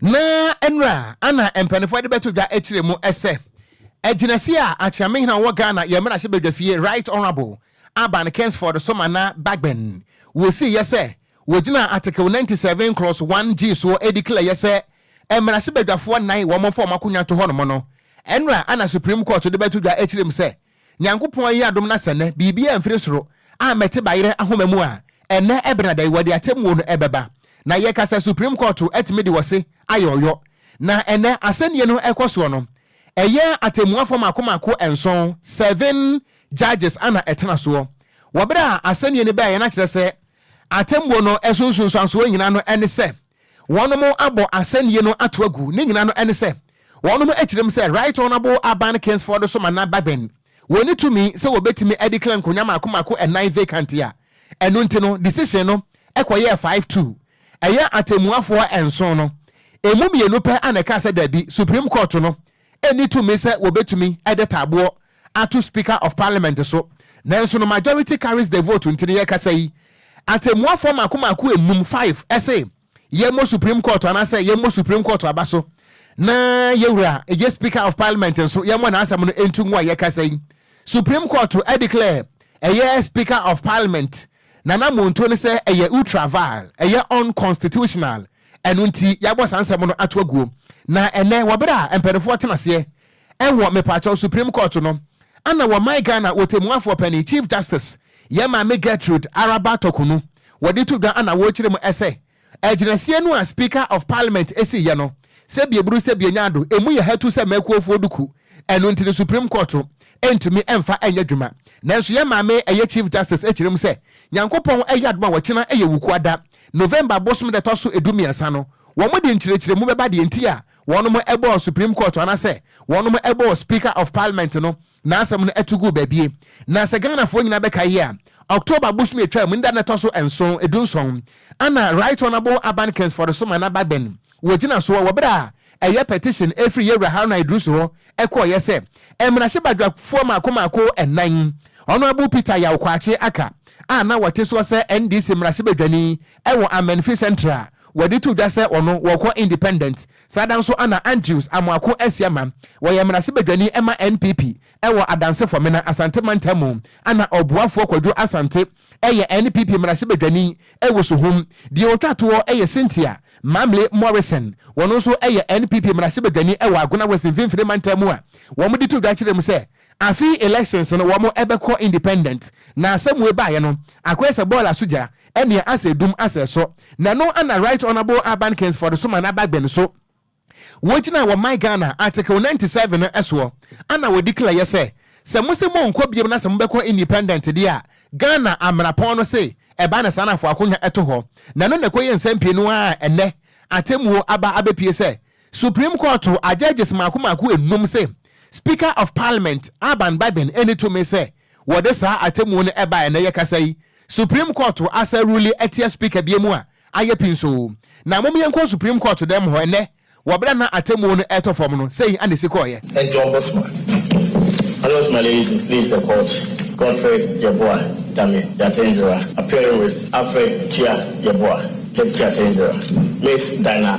na nnura ana mpanimfoɔ de bɛto dwa akyire mu sɛ agyinasi a akyerɛmehena wɔ Ghana yɛ mmarahyɛ badwafie Right Honourable Aban Kingsford Somana Bagbin wɔsiiɛ sɛ wɔgyina Article 97 Clause 1 G soɔ ɛdikilaeɛ sɛ mmarahyɛ badwafoɔ nnan wɔn mfa wɔn akonnwa nto hɔnom no nnura ana Supreme Court de bɛto dwa akyire mu sɛ Nyankopɔn ayi adom na sɛ nnɛ biribiara mfiri soro a mɛte bayerɛ ahoma mu a, ɛnnɛ ɛbena da yi wɔde atɛmmuo no ɛbɛba. Na yɛka sɛ Supreme Court atumi de ɔse ayɛ ɔyɔ. Na ɛnnɛ asɛnnie no ɛkɔ soɔ no, ɛyɛ atɛmmuafoɔ mmaako mmaako nson, seven judges, ana ɛtena soɔ wɔ berɛ a asɛnnie no baeɛ. Na kyerɛ sɛ atɛmmuo no ɛso nsunsuansoɔ nyinaa no ɛne sɛ, wɔnom abɔ asɛnnie no ato agu ne nyina no ɛne sɛ wɔnom akyire mu sɛ Right Honourable Aban Kingsford so Manah Bagbin wɔnni tumi sɛ wɔbɛtumi adeclare nkonwa mmaako mmaako ɛnan vacant a ɛno nti no decision no kɔyɛɛ five two ɛyɛ atɛmmuafoɔ nson no ɛmu mmienu pɛ a na ɛkaa sɛ daabi Supreme Court no nni tumi sɛ wɔbɛtumi de taaboɔ ato Speaker of Parliament so, nanso no majority carries the vote nti no yɛrekasa yi, atɛmmuafoɔ mmaako mmaako nnum, five, se yɛmmɔ Supreme Court anaasɛ yɛmmɔ Supreme Court aba so na yɛwura yɛ Speaker of Parliament nso yɛmmɔ n'asɛm no ntungo a yɛrekasa yi Supreme Court declare ɛyɛ Speaker of Parliament N'anammɔntuo ne sɛ ɛyɛ ultra vile, ɛyɛ unconstitutional, ɛno nti yɛabɔ saa nsɛm no ato aguo. Na ɛnnɛ wɔ berɛ a mpaninfoɔ tena aseɛ ɛwɔ mepaakyɛw Supreme Court no, ana wɔ my Ghana Ɔtɛmmuafoɔ Panin, Chief Justice, yɛn Maame Gertrude Araba Tɔkunu, wɔde to dwa ana wɔrekyerɛ mu ɛsɛ Agyinasie no a Speaker of Parliament si yɛ no, sɛ bi buru sɛ bi nya do, emu yɛ hatu sɛ mɛkuofoɔ duku, ɛno nti no Supreme Court ntumi mfa nyɛ adwuma. Nanso yɛn Maame ɛyɛ Chief Justice akyerɛ mu sɛ Nyankopɔn ayɛ adom a ɔkyena yɛ Wukuada, November bosom da ɛtɔ so du mmiɛnsa no, wɔde nkyerɛkyerɛmu bɛba deɛ nti a wɔnom bɔɔ Supreme Court anasɛ wɔnom bɔɔ Speaker of Parliament no N'asɛm no tu guu baabi. Na sɛ Ghanafoɔ nyinaa bɛkae yie a, October bosome a ɛtwaam no da no ɛtɔ so nson, dunson, ɛna Right Honourable Aban Kensford Soma na Bagbin wɔ gyinasoɔ wɔ berɛ a ɛyɛ petition firi Yɛwura Haruna Iddrisu hɔ kɔeɛ sɛ mmarahyɛbadwafoɔ mmaako mmaako nnan, Honourable Peter Yaw Kwakye aka a na wɔte soɔ sɛ NDC mmarahyɛbadwani wɔ Amenfi Central, wɔde to dwa sɛ ɔno wɔkɔ independent Saa da nso ana Andrews Amoako ahyia ma wɔyɛ mmarahyɛbadwani ma NPP wɔ Adansefo Mena Asante mantam mu. Ana ɔboafoɔ Kwadwo Asante yɛ NPP mmarahyɛbadwani wɔ Suhum. Deɛ ɔtwa toɔ yɛ Cynthia Mamle Morrison, ɔno nso yɛ NPP mmarahyɛbadwani wɔ Agona West mfimfini mantam mu a wɔde to dwa kyerɛ mu sɛ Afei elections no wɔn ɛbɛkɔ independent na asɛm wei baayɛ no akɔyɛ sɛ bɔɔla so gya ɛnea asɛ dum asɛ ɛsɔ na ɛno ɛna Right Honourable Aban Kingsford so ma n'aba gbɛn so wɔgyina wɔ my Ghana article ninety seven no ɛsoɔ ɛna wɔ declare yɛ sɛ sɛ mo se monkɔ biom na sɛ mobɛkɔ independent deɛ a Ghana amrapɔn no se ɛba na saa na fo akonwa ɛto hɔ na ɛno na ɛkɔyɛ nsɛm pii no ara a ɛnɛ atemuo aba abɛpie sɛ Supreme Court ajudges mmaako mmaako nnum se Speaker of Parliament Alban Bagbin nni tumi sɛ wɔde saa atemmuo no ba a ɛnnɛ yɛkasa yi. Supreme Court asa rule atia Speaker bi mu a ayɛ pinsoo. Na mom yɛnkɔ Supreme Court dan mu hɔ ɛnnɛ wɔ berɛ a na atemmuo no retɔ fam no, sei na ɛsi kɔeɛ. Ed John Bosma, Alois Maleyizi pleads the court, Godfred Yeboah Dame Yatendzera appearing with Alfred Tia Yeboah, Deputy Atendzera, Miss Dinah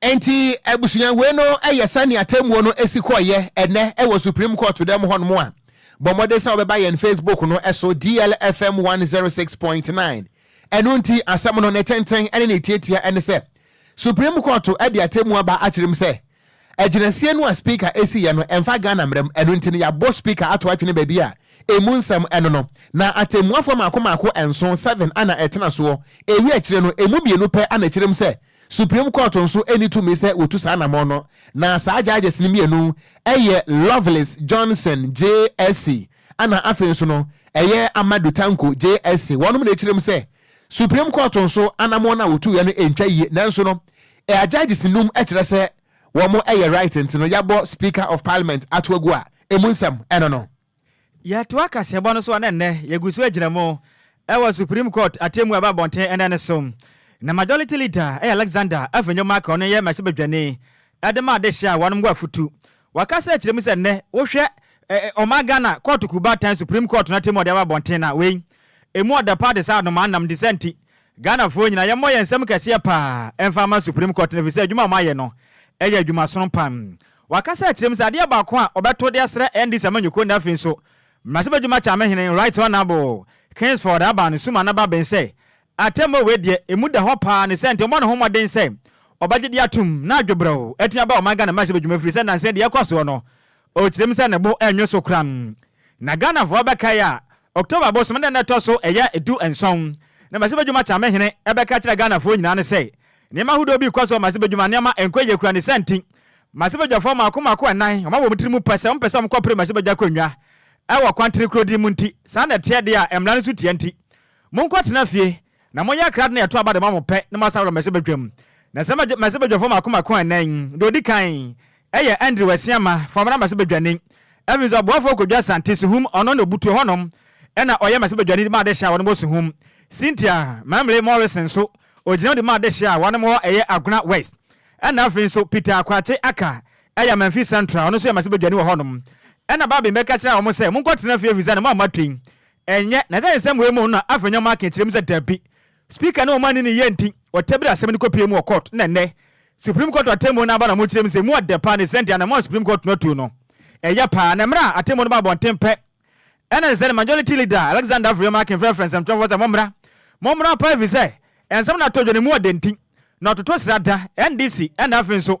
Enti abusuanhuei no yɛ sɛnea atemmuo no si kɔeɛ ɛnnɛ wɔ Supreme Court dɛm hɔnom a, bɔ mmɔden sɛ wobɛba yɛn Facebook no so, DLFM one zero six point nine. Ɛno nti, asɛm no, ne tenten ne ne tiatia ne sɛ, Supreme Court de atemmuo aba akyerɛ mu sɛ, agyinasie no a Speaker siiɛ no, ɛmfa Ghana mmara mu, ɛno nti no, yɛabɔ Speaker ato atwene baabi a ɛmu nsɛm no no. Na atemmuafoɔ mmaako mmaako nson, seven, na ɛtena soɔ, ɛwie akyire no, ɛmu mmienu pɛ na ɛkyerɛ mu sɛ Supreme Court nso nni tumi sɛ wɔtu saa anammɔn no, na saa judges no mmienu yɛ Lovelace Johnson JSC ɛna afei nso no ɛyɛ Amadou Tanko JSC. Wɔnom na ɛkyerɛm sɛ Supreme Court nso anammɔn no a wɔtuiɛ no ntwa yie, nanso no ɛa judges nnum kyerɛ sɛ wɔn yɛ right nti no yɛabɔ Speaker of Parliament ato agu a ɛmu nsɛm ɛno no. Yɛtoa kaseɛbɔ no so a na nnɛ yɛgu so agyina mu wɔ Supreme Court atemmu a ɛba abɔnten ɛnnɛ no so. Na Majority Leader yɛ Alexander Afenyo-Marko, ɔno yɛ mmarahyɛbadwani, de maa dehye a wɔnom wɔ afotu. Waka sɛ ɛkyerɛ mu sɛ nnɛ wohwɛ ɔman Ghana kɔɔto kuw baatan Supreme Court no atemmu a wɔde aba abɔnten no a, wei ɛmu ɔdɛ paa te sɛ anomaa nam. Nti saa nti Ghanafoɔ nyinaa yɛmmɔ yɛn nsam kɛseɛ paa mfa mma Supreme Court no, ɛfiri sɛ adwuma a wɔayɛ no yɛ adwuma sono paa. Wakasa akyerɛ mu sɛ adeɛ baako a ɔbɛto de asrɛ NDC amanyɔkuo no afei nso mmarahyɛbadwuma Kyame hene Right Honourable Kingsford Abah no suma no aba ben sɛ atemmuo wei deɛ ɛmu da hɔ paa ne sɛ nti ɔmmɔ ne ho mmɔden sɛ ɔbɛgye de atom na adwo brɛw atumi aba ɔman Ghana mmarahyɛbadwuma ɛfiri sɛ nnansa yi deɛ ɛrekɔ soɔ no ɔkyerɛ mu sɛ ne bo ɛnnwo so koraa na Ghanafoɔ bɛkae a October bosome da no ɛtɔ so ɛyɛ du nson na Mazi Badwuma Kyame hene ɛbɛka kyerɛ Ghanafoɔ nyinaa no sɛ nneɛma ahodoɔ bi rekɔ so wɔ Mazi Badwuma nneɛma ɛnkɔ yie kura ne saa nti Mazi Badwafoɔ mmaako mmaako ɛnan wɔn a wɔ wɔn tiri mu pɛ sɛ wɔn pɛ sɛ wɔn kɔ pere Mazi Badwa akonnwa ɛwɔ kwantere kuro din mu nti saa na ɛteɛ deɛ a mmara no so tia nti monkɔ tena fie Na monyɛ krado na ɛto aba de ma mo pɛ na moasan aba mmɛhyɛ badwam. Na sɛ mmɛhyɛ badwafo mmaako mmaako a ɛnnɛ yi, deɛ ɔdi kan yɛ Andrew Asiamah, Fɔmena mmɛhyɛ badwani. Afei nso aboafoɔ Kwadwo Asante, Suhum, ɔno na ɔbutuo hɔnom na ɔyɛ mmɛhyɛ badwani de ma adehye a wɔnom wɔ Suhum. Cynthia Mamle Morrison nso, ɔgyina mu de ma adehye a wɔnom wɔ ɛyɛ Agona West. Ɛna afei nso Peter Kwakye Aka yɛ Amanfi Central, ɔno nso yɛ mmɛhyɛ badwani wɔ hɔnom. Ɛna Barbie bɛka kyerɛɛ wɔn sɛ, Monkɔtena fie ɛfiri sɛ ne mma mma tui. Ɛnyɛ, na dɛn nsɛm wei mu na Afenyo Markin kyerɛ mu sɛ dabi, Speaker ne ɔmanni ne yɛ nti, wɔtabiri asɛm no kɔpue mu wɔ court na nnɛ, Supreme Court atemmuo no aba na mokyerɛ mu sɛ emu ɔdɛ paa ne sɛdeɛ anamɔn a Supreme Court no atu no ɛyɛ paa na mmerɛ a atemmuo no ba abɔnten pɛ ɛna ɛsɛ sɛ ne Majority Leader Alexander Afenyo Markin frɛfrɛ nsɛmtwerɛfoɔ sɛ mommra, mommra paa efisɛ nsɛm no atɔ dwa na emu ɔdɛ nti na ɔtoto sra da, NDC ɛna afei nso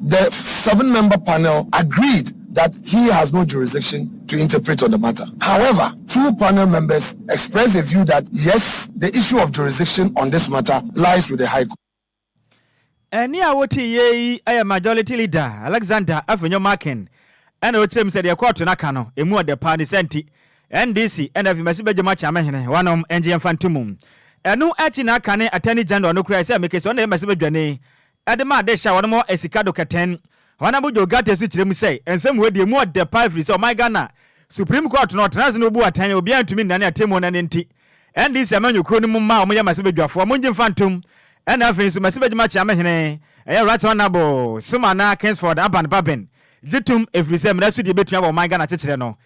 The seven-member panel agreed that he has no jurisdiction to interpret on the matter. However, two panel members expressed a view that yes, the issue of jurisdiction on this matter lies with the High Court. Ɛnne a wotiiɛ yi yɛ Majority Leader Alexander Afenyo Markin na ɔkyerɛ mu sɛ deɛ kɔɔto no aka no, ɛmu ɔdɛ paa, ne saa nti NDC na afei masi badwam akyɛ amehene wɔnom ngye mfa nto mu. Ɛno akyi na aka ne Attorney General no koraa sɛ mekese ɔno na ɛyɛ masi badwani Ɛde ma ade hye a wɔnom wɔ asika do kɛtɛn. Honourable Joe Ghartey nso kyerɛ mu sɛ nsɛm wei deɛ emu ɔdɛ paa ɛfiri sɛ ɔman Ghana a Supreme Court no ɔtena ase na obu atɛn a obiara ntumi nnane atemmuo no ɛno nti NDC amanyɔkuo no mu mma a wɔyɛ mmɛsibɛdwafoɔ mongye mfa ntom ɛna afei nso mmɛsibɛdwuma kyeame hene ɛyɛ Right Honourable Sumana Kingsford Aban Baben gye tom ɛfiri sɛ mmara so deɛ ɛbɛtua wɔ ɔman Ghana kyekyerɛ no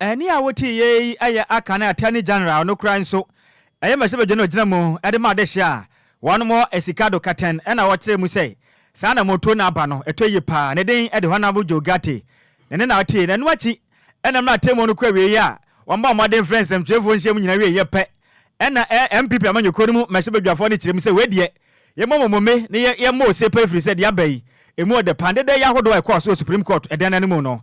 Ɛnne a wotee yɛ yi yɛ Akan Attorney General no koraa nso, ɛyɛ mmarahyɛ badwa no a ogyina mu de ma adehye a wɔanom sika do katɛn na ɔkyerɛɛ mu sɛ saa anammɔntuo no aba no ɛtɔ yie paa. Ne din de Honourable Joe Ghartey na ɛnnɛ na ɔte na ɛno akyi na mmara atemmuo no kɔ awieeɛ a wɔbɔɔ mmɔden frɛɛ nsɛmtwerɛfoɔ nhyiamu nyinaa wieeɛ pɛ na NPP amanyɔkuo no mu mmarahyɛ badwafoɔ no kyerɛ mu sɛ wei deɛ yɛmmɔ mo mome na yɛmmɔ ose paa ɛfiri sɛ deɛ aba yi ɛmu ɔdɛ paa. Dɛdɛɛyɛ ahodoɔ a ɛkɔɔ so wɔ Supreme Court dan no mu no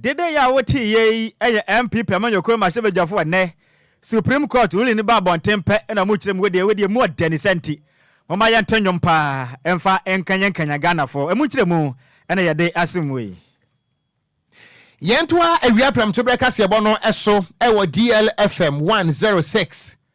Dede yi a wote yɛ yi yɛ MP pɛ amanyɔkuo mmarahyɛbadwafoɔ ɛnnɛ Supreme Court ruling no ba abɔnten pɛ na ɔmo kyerɛ mu wedeɛ wedeɛ emu ɔdɛ ne sɛ nti momma yɛnto nnwom paa mfa nkanyan kanyan Ghanafoɔ emu nkyerɛmu na yɛde asom wei. Yɛntoa awia prɛmtoberɛ kaseɛbɔ no so wɔ DLFM one zero six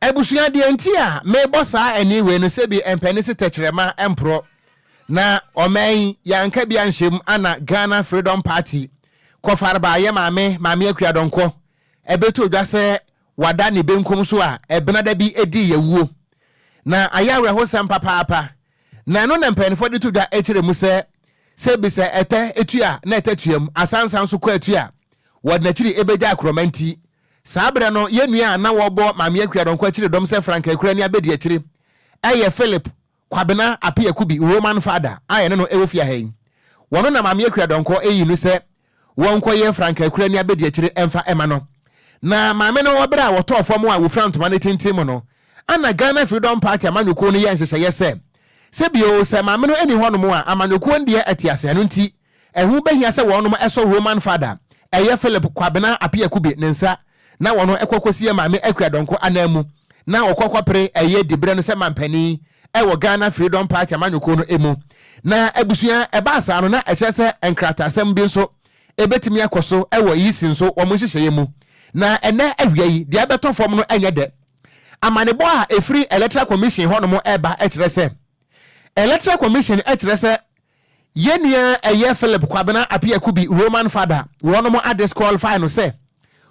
Abusua, deɛ nti a mebɔ saa ɛnne wei no sɛ bi ɛmpɛ ne se tɛkyerɛma mporɔ na ɔman yi yɛanka bi anhyɛ mu ana Ghana Freedom Party kɔ farba yɛ maame Maame Akua Donkor ɛbɛtɔ dwa sɛ wada ne benkum so a ɛbenada bi ɛdii yawuo na ayɛ awerɛhosɛm papaapa na ɛno na mpaninfoɔ de to dwa ɛkyerɛ mu sɛ sɛ bi sɛ ɛtɛ ɛtua na ɛtɛ tuam asansa nso kɔ atua wɔde nakyiri ɛbɛgya akorɔma nti Saa berɛ no, yɛn nua a na wɔbɔ Maame Akua Dɔnkɔ akyire dɔm sɛ Frank Akura ne Abɛdiakyire yɛ Philip Kwabena Appiah Kubi, Roman Fada, a yɛne no wɔ fie ha yi. Wɔno na Maame Akua Dɔnkɔ yii no sɛ wɔnkɔyɛ Frank Akura ne Abɛdiakyire mfa ma no. Na Maame no wɔ berɛ a wɔtɔɔ fam a wɔfira ntoma no tenten mu no, ana Ghana Freedom Party amanyɔkuo no yɛɛ nhyehyɛeɛ sɛ, sɛ bio, sɛ Maame no nni hɔnom a, amanyɔkuo no deɛ te ase, ɛno nti, Ɛho bɛhia sɛ wɔnom sɔ Roman Fada ɛyɛ Philip Kwabena Apiakubi ne nsa na wɔnom kɔ kɔsie Maame Akua Donkor ananmu na wɔkɔ kɔpere ɛyɛ diberɛ no sɛ manpanin wɔ Ghana Freedom Party amanyɔkuo no mu. Na abusua ɛbaa saa no na ɛkyerɛ sɛ nkrataasɛm bi nso ɛbɛtumi akɔ so wɔ Yisi nso wɔn nhyehyɛeɛ mu. Na ɛnnɛ awia yi deɛ ɛbɛtɔ fam no ɛnyɛ dɛ. Amanebɔ a ɛfiri Electoral Commission hɔnom ɛreba ɛkyerɛ sɛ Electoral Commission ɛkyerɛ sɛ Yɛn nua a ɛyɛ Philip Kwabena Appiah Kubi, Roman Fada, wɔnom a disqualify no sɛ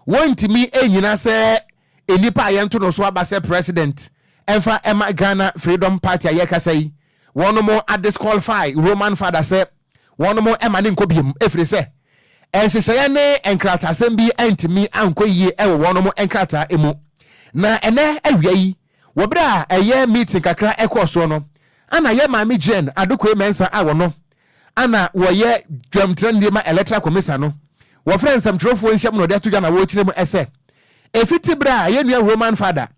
wɔntumi nnyina sɛ nnipa a yɛnto no so aba sɛ President mfa mma Ghana Freedom Party a yɛrekasa yi, wɔnom a disqualify Roman Fada sɛ wɔnom mma no nkɔ biom ɛfiri sɛ nhyehyɛeɛ ne nkrataasɛm bi antumi ankɔ yie wɔ wɔnom nkrataa mu. Na ɛnɛ awia yi Wɔ bere a ɛyɛ meeting kakra ɛkɔɔ soɔ no, ana yɛ Maame Jane Adokoe Mensah a wɔno ana wɔyɛ dwam trɛnidie ma Electoral Commissa no, wɔfrɛ nsɛmtwerɛfoɔ nhyiam na ɔde ato dwa na wɔrekyerɛ mu ɛsɛ ɛfiti bere a yɛ nua Roman Fada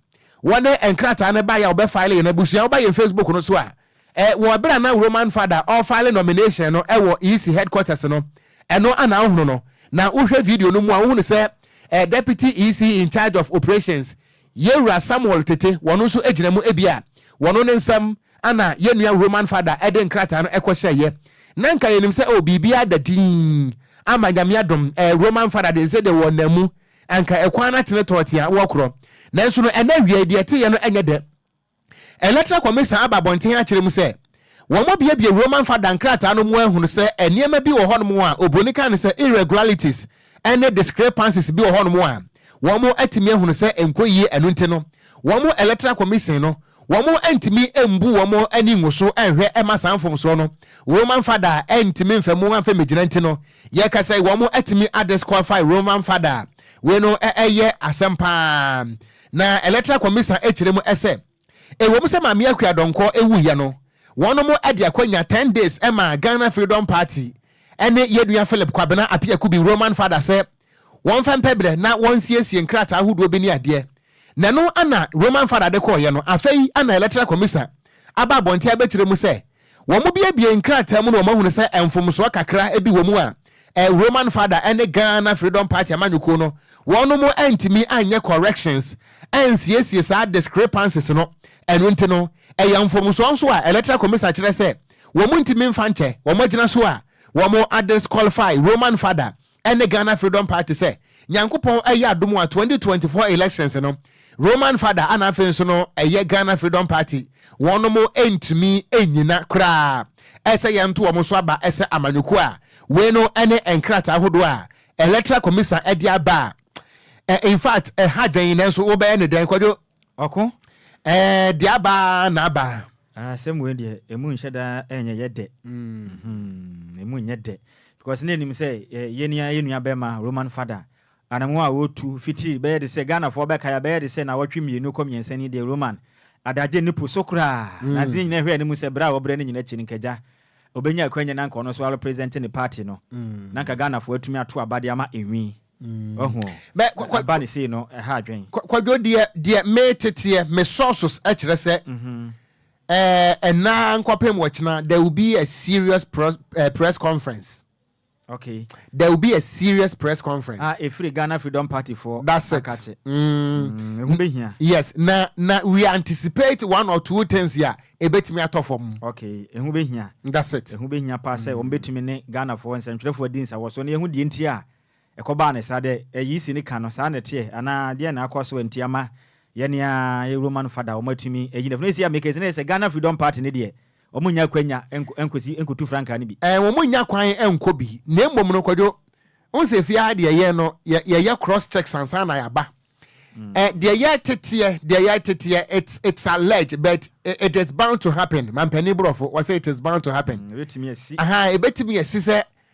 wɔde nkrataa no baeɛ a wɔbɛ file yɛn abusua woba yɛn Facebook no so a ɛ wɔ ɛberɛ a na Roman Fada ɔrefile nomination no ɛwɔ EC headquarters no ɛno ana wohunu no na wohwɛ video no mu a wohunu sɛ ɛ Deputy EC in charge of operations Yɛ wura Samuel Tete wɔno nso gyina mu ebia wɔno ne nsɛm ana yɛ nua Roman Fada de nkrataa no kɔ hyɛ yɛ na nka yɛ nim sɛ oh biribiara da dinn ama Nyame adom eh Roman Fada de nse de wɔ na mu anka ɛkwan no atene tɔɔ tea wɔ korɔ nanso no ɛnɛ awiaɛ deɛ ɛte yɛ no nyɛ dɛ. Electoral Commission aba abɔnten akyerɛ mu sɛ wɔabuebue Roman Fada nkrataa no mu ahunu sɛ nneɛma bi wɔ hɔnom a oburoni ka no sɛ irregularities ne discrepancies bi wɔ hɔnom a wɔatumi ahunu sɛ ɛnkɔ yie ɛno nti no wɔn Electoral Commission no wɔantumi ambu wɔn ani ngu so anhwɛ ɛma saa mfomsoɔ no Roman Fada a antumi mfa mu amfa mmɛgyina nti no yɛka sɛ wɔatumi adisqualify Roman Fada a wei no ɛyɛ asɛm paa Na Electoral Commission kyerɛ mu sɛ, ɛwɔ mu sɛ Maame Akua Donkor wuiɛ no, wɔnom de akwanya ten days maa Ghana Freedom Party ne yɛn nua Philip Kwabena Appiah Kubi, Roman Father, sɛ wɔmfa mpɛbrɛ na wɔnsiesie nkrataa ahodoɔ bi ne adeɛ. Na ɛno na Roman Father de kɔeɛ no. Afei na Electoral Commission aba abɔnten abɛkyerɛ mu sɛ Wɔbuebuee nkrataa mu na wɔahunu sɛ mfomsoɔ kakra bi wɔ mu a Roman Father ne Ghana Freedom Party amanyɔkuo no wɔnom antumi anyɛ corrections ansiesie saa discrepancies no ɛno nti no ɛyɛ mfomsoɔ nso a Electoral Commision kyerɛ sɛ wɔntumi mfa nkyɛ wɔn agyina so a wɔadisqualify Roman Father ɛne Ghana Freedom Party sɛ Nyankopɔn ayɛ adom a 2024 elections no Roman Father ana afei nso no ɛyɛ Ghana Freedom Party wɔnom ntumi nnyina koraa ɛsɛ yɛnto wɔn so aba ɛsɛ amanyɔkuo a wei no ɛne nkrataa ahodoɔ a Electoral Commisan ɛde aba a ɛ infact ɛha dwɛn nanso wobɛyɛ ne dɛn kwadwo ɔko ɛɛ de aba na aba. Ah, asɛm wei deɛ ɛmu nhyɛ daa ɛnyɛ yɛ dɛ mm-hmm. ɛmu nyɛ dɛ because na ɛnim sɛ eh, yɛni ayɛ nua bɛma roman fada anamu a wɔtu fitiri bɛyɛ de sɛ ghanafoɔ bɛka yɛ bɛyɛ de sɛ na wɔtwe mmienu kɔ mmiɛnsa ni deɛ roman adagye ne po so koraa mm. na ntene nyina hwɛ ne mu sɛ berɛ a wɔbrɛ no nyina akyi no nkagya ɔbɛnya akwanya na nka ɔno so alo presente ne party no mm. na nka ghanafoɔ atumi ato abade ama ɛnwi Wahu o. Bɛ- kwa- kwa- Ɛba ne sei no, ɛha adwen. Kwa- kwadwo deɛ deɛ meteteɛ me sources kyerɛ sɛ ɛɛ, ɛnaa nkɔpem wɔkyena there will be a serious pros, eh, press conference Okay. there will be a serious press A conference ɛfiri Ghana Freedom Party foɔ that's it akakye. mm. Mm, Ɛho bɛhia. yes na na we anticipate one or two things a ɛbɛtumi atɔ fam Okay. Ɛho bɛhia. That's it. Ɛho bɛhia paa sɛ wɔn bɛtumi ne Ghanafoɔ nsɛntwerɛfoɔ adi nsawɔ so na yɛhu deɛ nti a Ɛkɔbaa ne saa dɛ eyi si ne kan no, saa na ɛteɛ anaa deɛn na akɔ so nti ama yɛne a yɛ Roman fada wɔn atumi ayi no afi no ɛsei a meka ɛsei ne yɛ sɛ Ghana Freedom Party no deɛ wɔn nnya akwanya nkɔsi nkɔtu frankaa no bi. Ɛɛ wɔn nnya kwan nkɔ bi na mmom no Kwadwo wohu sɛ fie ha deɛ yɛn no yɛ yɛyɛ cross checks ansa na yɛaba ɛ deɛ yɛ teteɛ deɛ yɛ teteɛ it's it's alleged but it is bound to happen mampanin borɔfo wɔsɛ it is bound to happen ɛbɛtumi asi ɛbɛtumi asi sɛ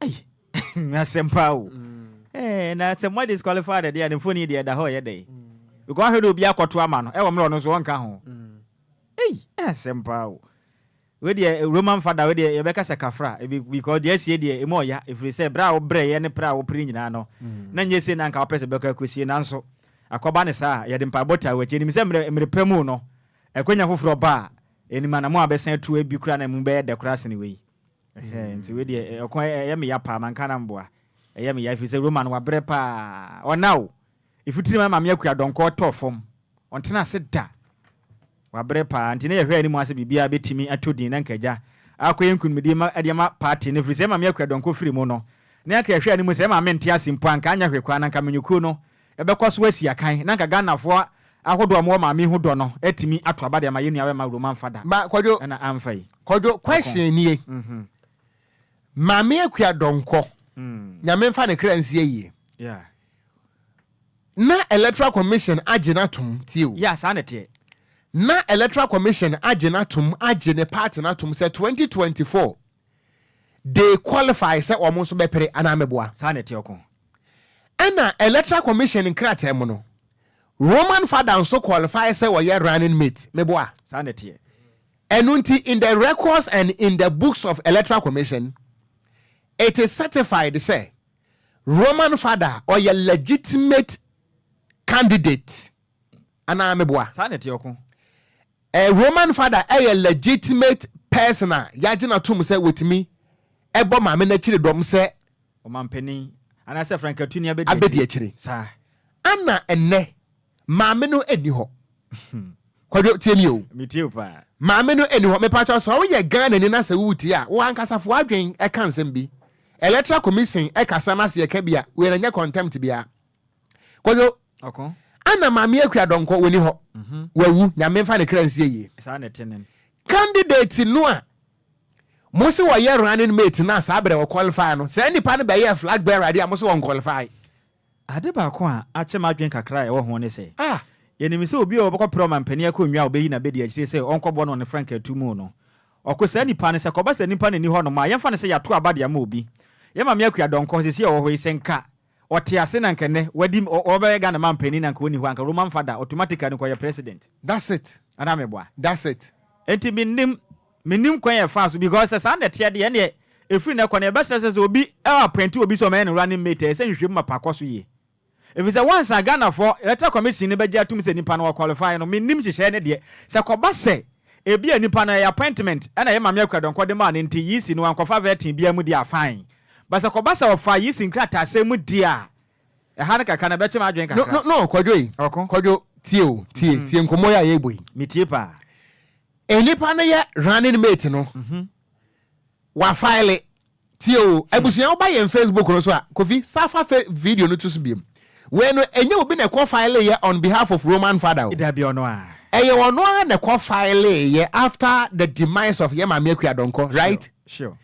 Ei, asɛm paa o. Eh, na sɛ mo disqualify de deɛ, ne mfoni deɛ ɛda hɔ ɛyɛ dɛ. Because ahwɛ de obi akɔto ama no, ɛwɔ mmerɛ ɔno nso ɔnka ho. Ei, asɛm paa o. Wei deɛ Roman fada wei deɛ yɛbɛka sɛ kafra because deɛ asie deɛ emu ɔya ɛfiri sɛ berɛ a wobrɛeɛ ne prɛ a wopere nyinaa no na nyɛ sei na anka wopɛ sɛ bɛkɔ akɔsie nanso akɔba ne saa yɛde mpaebɔ taa wakyi ɛnim sɛ mmerɛ mmerɛ pɛ mu no ɛkwanya foforɔ ba a ɛnim anamo a bɛsan atu ebi koraa na mu bɛyɛ dɛ koraa sene wei Ɛhɛɛ, nti wei deɛ, ɛ, ɔko ɛ, ɛyɛ me ya paa, manka na mboa. Ɛyɛ me ya, ɛfiri sɛ Roma no, wabrɛ paa. Ɔna o! Mfutiri ma Maame Akua Donkor tɔɔ fam. Ɔntena ase da. Wabrɛ paa. Nti na yɛhwɛ yɛn anim ara sɛ biribiara bɛtumi atɔ din, na anka agya akɔyɛ nkunimdie ma, de ama party no, ɛfiri sɛ Maame Akua Donkor firi mu no, na anka yɛhwɛ yɛn anim sɛ Maame nte ase mpo a, anka anyɛ hwee koraa, na anka Manyɔkuo no, ɛbɛkɔ so asi akan na anka Ghanafoɔ ahodoɔ a wɔwɔ maame yi ho dɔ no atumi ato aba de ama yɛn nuabɛma wuro mamfa da Ba kwadwo ɛna amfa yi kwadwo question nie maame akua dɔnkɔ nyame mfa ne kra nsi ayie yeah na electoral commission agye no atom tie o yeah saa na ɛteɛ na electoral commission agye no atom agye ne party no atom sɛ 2024 they qualify sɛ wɔn nso bɛpere anaa mmɛboa. Saa na ɛteɛ ɔko. Ɛna Electoral Commission nkrataa mu no, Roman Father nso qualify sɛ ɔyɛ running mate, mmeboa. Saa na ɛteɛ. Ɛno nti, in the records and in the books of Electoral Commission, it is certified sɛ Roman Father ɔyɛ legitimate candidate. anaa meboa. Saa na ɛteɛ ɔko. A Roman father yɛ legitimate person a yɛagye no atom sɛ watumi bɔ maame no akyiri dɔm sɛ. Ɔmampanin, anaasɛ frankatuni abɛdi akyiri. Abɛdi akyiri. Saa. Ana ɛnnɛ maame no nni hɔ? Kwadwo, tie me o. Metie wo paa. Maame no nni hɔ. Mepa kyɛw, sɛ woyɛ Ghanani na sɛ woretie a, wo ankasa fa w'adwene ka nsɛm bi. Electoral Commission kasa na sɛ yɛka bi a, wei no nyɛ contempt biara. kwadwo ana maame akua dɔnkɔ wɔni hɔ mhm. wawu nyame mfa ne kra nsie yie candidate no a mo se wɔyɛ running mate no a saa berɛ wɔ qualify no saa nnipa no bɛyɛ flag bearer de a mo se wɔn qualify ade baako a akyɛ ma adwene kakra a ɛwɔ ho ne sɛ ah. yɛnim sɛ obi a wɔbɛkɔ pere ɔma mpanin akonnwa a wɔbɛyi na bɛdi akyire sɛ ɔnkɔbɔ no ne frankaa tu mu no ɔkɔ saa nipa no sɛ kɔba sɛ nipa no ani hɔ nom a yɛmfa no sɛ yɛato aba de ama obi yɛma me akua dɔnkɔ sɛsi a ɔwɔ hɔ yi sɛ nka ɔte ase na anka nnɛ wadi ɔbɛyɛ Ghana man panin anka ɔnni hɔ anka Roman father automatically no kɔyɛ president. That's it. Anaa meboa? That's it. Nti mennim mennim kwan a ɛfaa so because sɛ saa na ɛteɛ deɛ ɛnneɛ ɛfiri nnɛ kɔ no yɛbɛsrɛ sɛ sɛ obi appointi obi sɛ ɔmɛyɛ no running mate a ɛsɛ nhwehwɛmu mapa akɔ so yie ɛfiri sɛ once a Ghanafoɔ electoral commission no bɛgye atom sɛ nipa no ɔqualify no mennim nhyehyɛeɛ no deɛ sɛ kɔba sɛ ebia nipa no ɛyɛ appointment ɛna ɛyɛ Maame Akua Donkor de maa no nti yisi no wankɔfa vetting biara mu deɛ a fine Basakɔbasa ɔfaa Yeast nkrataasɛm mu di a ɛha no kakra no ɛbɛkye m'adwene kakra. No, no, no, Kwadwo yi, Ɔko. Kwadwo, tie o, tie, tie nkɔmmɔ yi a yɛrebɔ yi. Metie paa. Nnipa no yɛ running mate no, wafaele, tie o, abusua woba yɛn Facebook no so a, Kofi, sa fa fe, video no to so biom. Wei no, ɛnyɛ obi na ɛkɔ faeleeɛ on behalf of Roman Father o. Dabi, ɔno ara. Ɛyɛ ɔno ara na ɛkɔ faeleeɛ after the demise of yɛn Maame Akua Donkor, right? Sure, sure.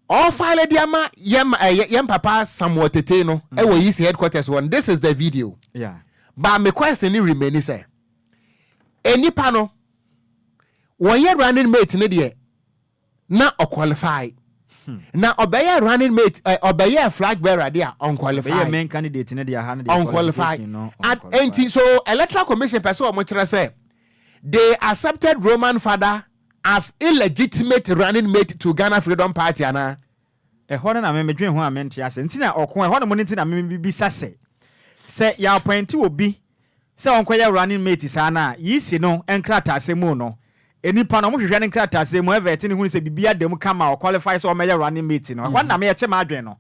Ɔfile de ama yɛn eh, yɛn papa Samuel Tete no mm. ɛwɔ Yeast headquarters hɔ no this is the video yeah. but my question ne remain sɛ nnipa no wɔyɛ running mate ne deɛ na ɔqualify hmm. na ɔbɛyɛ running mate eh, ɔbɛyɛ flag bearer de a ɔnqualify ɔnqualify nti so electoral commission pɛ sɛ wɔn kyerɛ sɛ they accepted Roman father as illegitimate running mate to Ghana Freedom Party anaa? Ɛhɔ no na me medwen ho a mente ase nti na ɔko ɛhɔ nom no nti na me mebisa sɛ, sɛ yɛ appointe obi sɛ ɔnkɔyɛ running mate saa no a, yisi no nkrataasɛm mu no, nipa no ɔmo hwehwɛ ne nkrataasɛm mu, ɛvɛɛte no hunu sɛ biribi ada mu kama a ɔqualify sɛ ɔmɛyɛ running mate no, ɛhɔ no na me ɛkyɛ m'adwen no.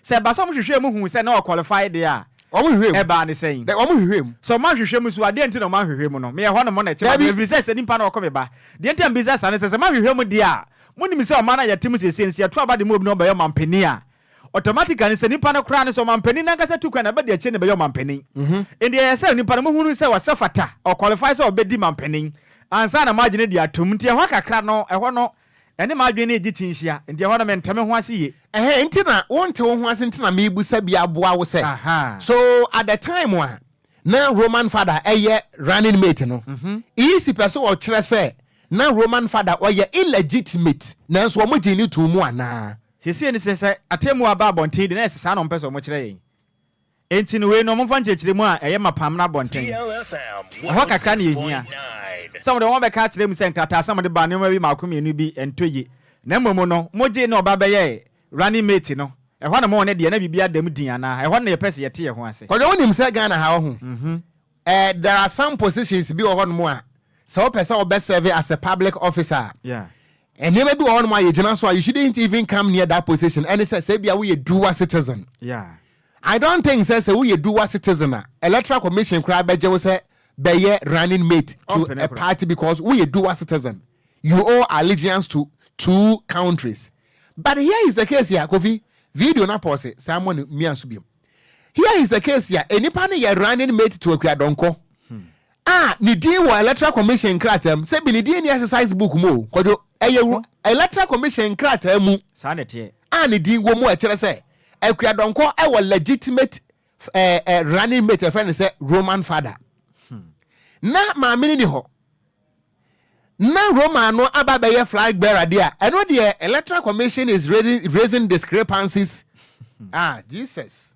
Sɛ ɛba sɛ wɔhwehwɛɛ mu huu sɛ na ɔqualify deɛ a, Wɔhwehwɛɛ mu. ɛbaa ne sɛn? Dɛ, wɔhwehwɛɛ mu. Sɛ wɔanhwehwɛ mu nso a, deɛn nti na wɔanhwehwɛ mu no? Meyɛ hɔnom na ɛkyem aba, Dabi. ɛfiri sɛ sɛ nipa na ɔko me ba. Deɛ nti a mebisa saa ne sɛ, sɛ moanhwehwɛ mu deɛ a, monim sɛ ɔman no a yɛte mu seesei no, sɛ yɛto aba de ma obi na ɔbɛyɛ ɔmanpanin a, automatically no, sɛ nipa no koraa no, sɛ ɔmanpanin no ankasa tu kwan a, ɛba deɛ akyire no bɛyɛ ɔmanpanin. Enti ɛyɛ sɛ nipa no mohunu sɛ ɔsɛ fata, ɔqualify sɛ ɔbɛdi manpanin, ansa na moagye no de atom. Nti ɛhɔ kakra no, ɛhɔ no, Ɛne m'adwene no regye kyinhyia, enti ɛhɔ no mente me ho ase yie. Ɛhɛn, enti na wonte wo ho ase nti na merebisa bi aboa wo sɛ, so at the time a na Roman Fada yɛ running mate no, EEC pɛ sɛ wɔkyerɛ sɛ na Roman Fada ɔyɛ illegitimate nanso wɔgyee no too mu anaa? Seesei no sɛ, sɛ atemmu aba abɔnten de na ɛsɛ saa na wɔpɛ sɛ wɔkyerɛ yɛn. Enti no wei no wɔmfa nkyerɛkyerɛmu a ɛyɛ mapa mmra abɔnten. Ɛhɔ kakra na yɛhia. Sɛ wɔde wɔn abɛka akyerɛ mu sɛ nkrataa sɛ wɔde baa nneɛma bi mmaako mmienu bi ntɔ yie. Na mmom no mogyee ne ɔba bɛyɛɛ running mate no. Ɛhɔ na mo ne deɛ na biribiara da mu dinn anaa? Ɛhɔ na yɛpɛ sɛ yɛte yɛn ho ase. Kwadwo wonim sɛ Ghana ha woho eh there are some positions bi wɔ hɔ nom a sɛ wopɛ sɛ wobɛ serve as a public officer a nneɛma bi wɔ hɔ nom a yɛgyina so a you shouldn't even come near that position ɛne sɛ sɛ ebia woyɛ dual citizen. I don't think sɛ sɛ woyɛ dual citizen a electoral commission koraa bɛgye wo sɛ bɛyɛ running mate to a party because woyɛ dual citizen you owe allegiance to two countries but here is a case a Kofi video na pɔse saa mɔ no mia so biom here is a case a enipa no yɛ running mate to Akuadɔnkɔ A, ne din wɔ Electoral Commission nkrataa mu. Sɛbi ne din nni exercise book mu o, Kwadwo. Ɛyɛ wɔ Electoral Commission nkrataa mu Saa na ɛteɛ. a ne din wɔ mu a ɛkyerɛ sɛ Akua Donkor wɔ legitimate eh, eh, running mate a yɛfrɛ no sɛ Roman Father. Na maame no nni hɔ. Na Roman no aba abɛyɛ flag bearer deɛ a, ɛno deɛ Electoral Commission is raising, raising discrepancies. Ah, Jesus.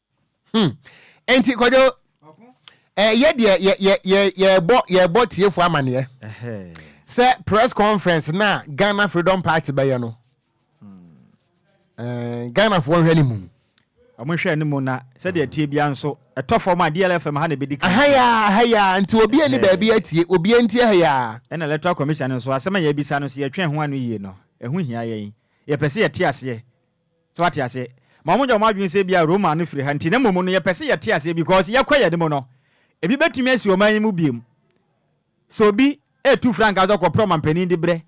Hmm. Enti kwadwo ɛyɛ eh, deɛ yɛ yɛ yɛ yɛbɔ yɛbɔ tiefo amaneɛ sɛ press conference na Ghana Freedom Party bɛyɛ no ɛɛ hmm. eh, Ghana foɔ nhwɛ ne mu. wɔn hwɛ ne mu na sɛdeɛ tie bia nso ɛtɔ fam a DLFM ha na ebedi kan. ahaya ahaya nti obi ani baabi atie obi nti ahaya. ɛna electoral commission nso asɛm a yɛbisa no so yɛtwɛn ho ano yie no ɛho hia yɛn yɛpɛ sɛ yɛte aseɛ So wate aseɛ? Ma wɔn nyɛ wɔn adwene sɛ ebia Roma no firi ha nti na mmom no yɛpɛ sɛ yɛte aseɛ because yɛkɔ yɛn anim no ebi bɛtumi asi ɔman yi mu biom. Sɛ obi retu frankaa sɛ ɔkɔpere ɔmanpanin de brɛ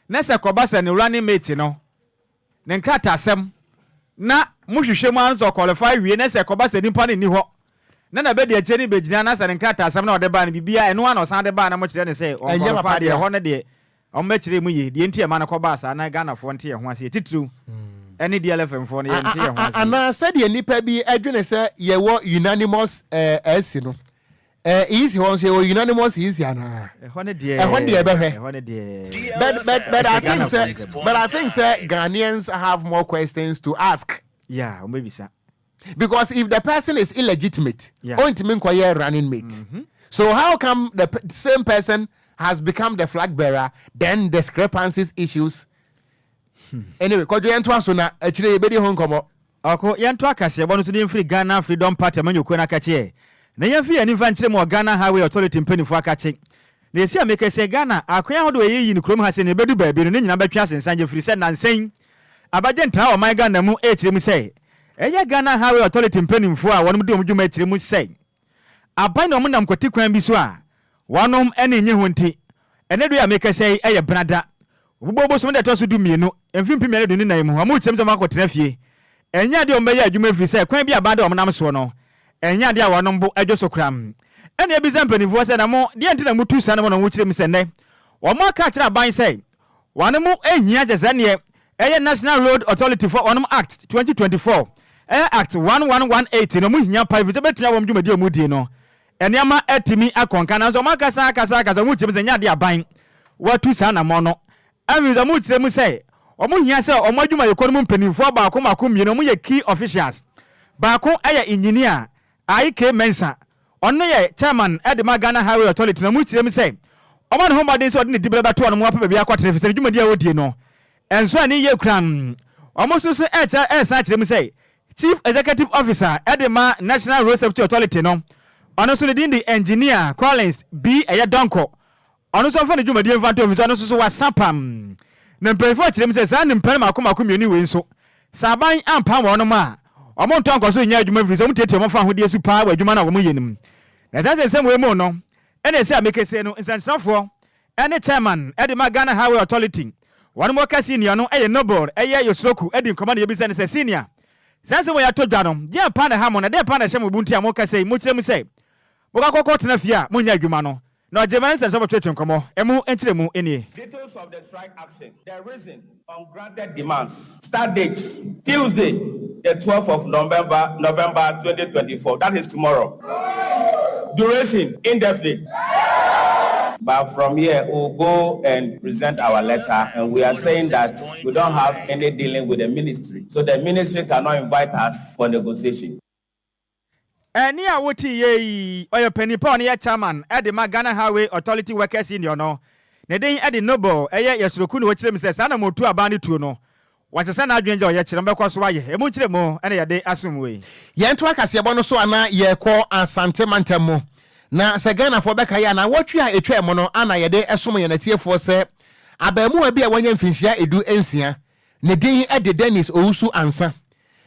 na sɛ ɛkɔba sɛ ne running mate no ne nkrataasɛm na mo hwehwɛ mu ara no sɛ ɔqualify wie na sɛ ɛkɔba sɛ nipa no nni hɔ na na bɛdi akyire no bɛgyina na sɛ ne nkrataasɛm na ɔde baa no biribiara ɛno ara na ɔsan de baa na mokyerɛ no sɛ Ɛnyɛ papa ɔnqualify deɛ deɛ. ɛhɔ no deɛ Wɔbɛkyerɛ mu yie deɛ nti a ɛma no kɔbaa saa na Ghanafoɔ nte yɛn ho aseɛ titiriw ne DLFMfoɔ no yɛnte yɛn ho aseɛ. Anaa sɛdeɛ nnipa bi dwene sɛ yɛwɔ unanimous ɛɛsi no, ɛɛ easy hɔ nso yɛwɔ unanimous easy anaa? Ɛhɔ no deɛ Ɛhɔ no deɛ ɛbɛhwɛ. ɛhɔ no deɛ But but but I Ɛsɛ think sɛ Ghanafoɔ but I think sɛ Ghanaians have more questions to ask. Yeah, wɔbɛbisa. Because if the person is illegitimate, yeah. ontimi nkɔyɛ running mate. Mm -hmm. So how come the same person has become the flag bearer? Then discrepancies issues. Hmm. Anyway, kɔdwo yɛn to aso na akyire yɛbɛdi ho nkɔmɔ. Ɔko yɛn to akaseɛ bɔ no so ne mfiri Ghana Freedom Party ma nyɔkuo no akakyeɛ. Na yɛn fi yɛn nifa nkyerɛ mu wɔ Ghana Highway Authority mpanimfoɔ akakye. Na ɛsi a mekɛseɛ Ghana akoya ahodoɔ ɛyɛ yi no kurom ha sɛ ne ɛbɛdu baabi no ne nyinaa bɛtwe asensan yɛfiri sɛ nansɛn Abagye ntraa ɔman Ghana mu ekyirɛ mu sɛ ɛyɛ Ghana Highway Authority mpaninfoɔ a wɔnom di wɔn dwuma ekyirɛ mu sɛ aban na wɔn nam kwati kwan bi so a wɔnom ani nnye ho nti ɛnɛ dɔ yi a mekasa yi ɛyɛ bena da Obubuo bosome da ɛtɔ so du mmienu mfe mpem mmienu aduonu nan mu wɔn kyirɛ mu sɛ wɔn akɔ tena fie ɛnyɛ adeɛ a wɔn bɛyɛ adwuma efiri sɛ kwan bi a aban da wɔn nam soɔ no ɛnyɛ adeɛ a wɔnom bo dwo so koraa ɛna yɛbisa mpaninfoɔ sɛ na mo deɛ nti na motu saa nom na wɔn kyirɛ mu sɛ nnɛ wɔn aka akyirɛ aban sɛ Wɔn mo nhia kyɛsɛ neɛ ɛyɛ National Road Authority foɔ wɔn mo Act twenty twenty four ɛyɛ Act one one one eight no wɔn hia paa ɛfirisɛ bɛtua wɔn dwumadie wɔn die no nneɛma atumi akɔ nka nanso wɔn akasa akasa akasa wɔn kyerɛmu sɛ nyɛ adeɛ aban watu saa namɔn no ɛfirisɛ wɔn kyerɛmu sɛ wɔn hia sɛ wɔn adwumayɛkuo no mu mpaninfoɔ baako baako mmienu wɔn yɛ key officials baako ɛyɛ engineer Ayi K. Mensah, ɔno yɛ Chairman de ma Ghana Highway Authority no, ɔkyerɛ mu sɛ, Ɔma ne ho mmɔden sɛ ɔde ne dibea bɛto wɔn a wɔapɛ baabi akɔtena efisɛ ne dwumadi a wodie no nso ani ye koraa. Wɔn nso so resan akyerɛ mu sɛ, Chief Executive Officer de ma National Road Safety Authority no, ɔno nso ne din de Engineer Collins B. Ɛyɛ Donkor, Ɔno nso mfa ne dwumadie mfa nto mu efisɛ ɔno nso so wasa apam. Na mpanyinfoɔ kyerɛ mu sɛ saa nimpɛn mako mako mmienu wei nso, sɛ aban ampam wɔnom a, wɔn ntɔ nkɔ so nyɛ adwuma efirisɛ wɔn tiatia wɔn fahodie su paa wɔ adwuma no a wɔn yɛ no mu. Na saa nsɛnsɛm wei mu no ɛna ɛsɛ a mekesee no nsɛnkyerɛfoɔ ɛne chairman ɛde ma Ghana Highway Authority wɔnom wɔ ka senior no ɛyɛ Noble ɛyɛ Yosuroku ɛdi nkɔmɔ na yɛbisa no sɛ senior saa nsɛm wei atɔ dwa no deɛn paa na ɛha mo na deɛn paa na ɛhyɛ mo bu nti a moka sei mokyerɛ mu sɛ Mokɔ akɔkɔ tena fie a monyɛ adwuma no na ɔgye ma nsɛm sɛ motwetwe nkɔmmɔ. Ɛmu nkyerɛmu nie. Details of the strike action, the reason, ungranted demands, start date, Tuesday the twelfth of November, November twenty twenty four, that is tomorrow, duration, indefinite, but from here we will go and present our letter and we are saying that we don't have any dealing with the ministry so the ministry cannot invite us for negotiation. Ɛnne a wotiiɛ yi, ɔyɛ ɔpanin pa a ɔno yɛ Chairman de ma Ghana Highway Authority Workers Union no. Ne din de Noble, ɛyɛ yɛ soro kunu. Ɔkyerɛ mu sɛ, saa na motu aban no tuo no. Wɔasesa n'adwene gya a ɔyɛ kyerɛ no bɛkɔ so ayɛ. Ɛmu nkyerɛmu na yɛde asom wo yi. Yɛntoa kaseɛbɔ no so ana yɛkɔ Asante mantam mu na sɛ Ghanafoɔ bɛka yɛ a nawɔtwe a ɛtwaam no ana yɛde som yɛn atiefoɔ sɛ abaamuwa bi a wanya mfinhyia edu nsia Ne din de Dennis Owusu-Ansah,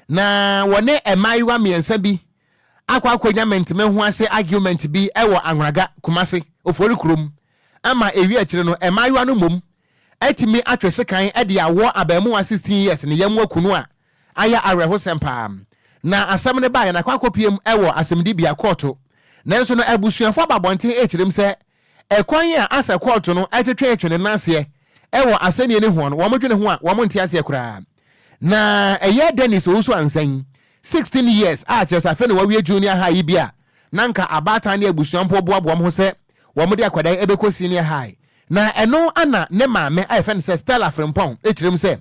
na wɔne mmaayewa mmiɛnsa bi akɔ akɔnya mente-me-ho-ase argument bi wɔ Anhraga, Kumasi, Ofori kurom, ama ɛwie akyire no, mmaayewa no mmom atumi atwe sekan de awɔ abarimuwa 16 years ne yɛmmoa kunu a ayɛ awerɛhosɛm paa. Na asɛm no baeɛ no akɔ akɔpiem wɔ asɛmdibea, kɔɔto, nanso no abusuafoɔ aba abɔnten rekyerem sɛ Ɛkwan a Asa kɔɔto no twetwetwe ne nan ase wɔ asɛnnie no ho no, wɔdwene ho a, wɔnte aseɛ koraa. Na ɛyɛ Dennis Owusu-Ansain, 16 years, a kyerɛ sɛ afei na wawie junior high yi bi a na anka abaatan ne abusua mpo boaboa wɔn ho sɛ wɔde akwadaa yi bɛkɔ senior high. Na ɛno na ne maame a yɛfrɛ no sɛ Stella Frimpong kyerɛ mu sɛ,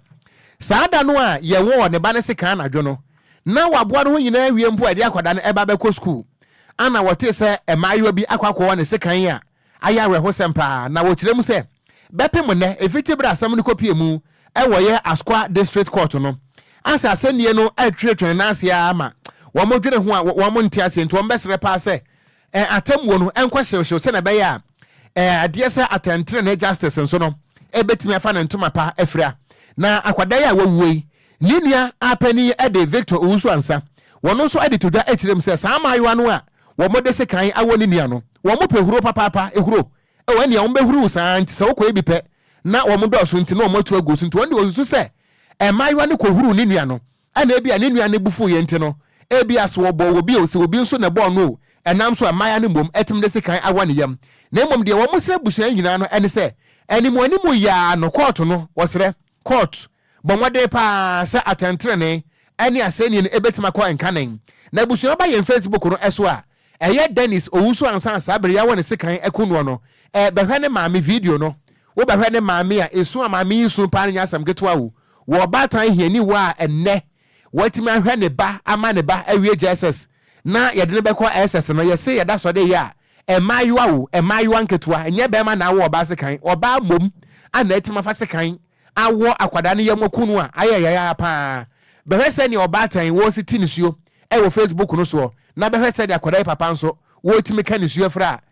Saa da no a yɛwɔɔ ne ba no sekan anadwo no, Ná waboa ne ho nyinaa awie mpo a ɛde akwadaa no reba abɛkɔ sukuu. Anna wɔtee sɛ mmaayewa bi akɔ akɔwɔ ne sekan a ayɛ awerɛhosɛm paa, na wɔkyerɛ mu sɛ, Bɛpem nnɛ, ɛfiti bere a asɛm no kɔpuee mu wɔ yɛ Asqua District Court no. Ansa asɛnnie no retwetwe ne nan ase ara ma wɔdwene ho a, wɔn nte aseɛ nti wɔbɛsrɛ paa sɛ eh, atemmuo no nkɔ hyewhyew sɛnea ɛbɛyɛ a eh, adeɛ sɛ atɛntenenee justice nso no ɛbɛtumi afa ne ntoma pa afira. Na akwadaa yi a wawuo yi ne nua apanin de Victor Owusu-Ansah wɔn nso de to dwa kyerɛ mu sɛ saa mmaayewa no a wɔde sekan awɔ ne nua no wɔn pɛ huro papaapa ehuro ɛwɔ ɛnea wɔn bɛhuru saa nti sɛ wɔkɔyɛ bi pɛ na wɔn dɔɔso nti na wɔn atu agu so nti wɔn de wɔsusu sɛ mmaayewa no kɔhuru ne nua no Ɛna ebia ne nua no bo fuw yɛ nti no, ebia sɛ wɔbɔɔ obi o, sɛ obi nso na ɛbɔɔ no o, ɛnam so a mmaeɛ no mmom tumi de sekan awɔ ne yam. Na mmom deɛ wɔsrɛ abusua nyinaa no ne sɛ, animuanimu yɛ ara no, kɔɔto no, wɔsrɛ, court, bɔ mmɔden pa ara sɛ atɛntenenee ne asɛnnie no bɛtumi akɔ nkanen. Na abusua no ba yɛn Facebook no so a, ɛyɛ Dennis Owusu ansa na saa bere yi awɔ ne sekan aku noɔ no, bɛhwɛ ne maame video no. Wobɛhwɛ ne maame a, esu a maame yi su pa ara no nyɛ asɛm ketewa o. wɔ ɔbaatan hiani wɔ a ɛnnɛ watumi ahwɛ ne ba ama ne ba awie jss na yɛde no bɛkɔ SS no, yɛse yɛda sɔde yɛ a mmaayewa o, mmaayewa nketewa, nyɛ barima na awo ɔbaa sekan, ɔbaa mmom a na atumi afa sekan awɔ akwadaa no yam aku no a, ayɛ yae ara pa ara. Bɛhwɛ sɛdeɛ ɔbaatan wɔresiti nisuo wɔ facebook no soɔ na bɛhwɛ sɛdeɛ akwadaa yi papa nso wɔretumi ka nisuo fra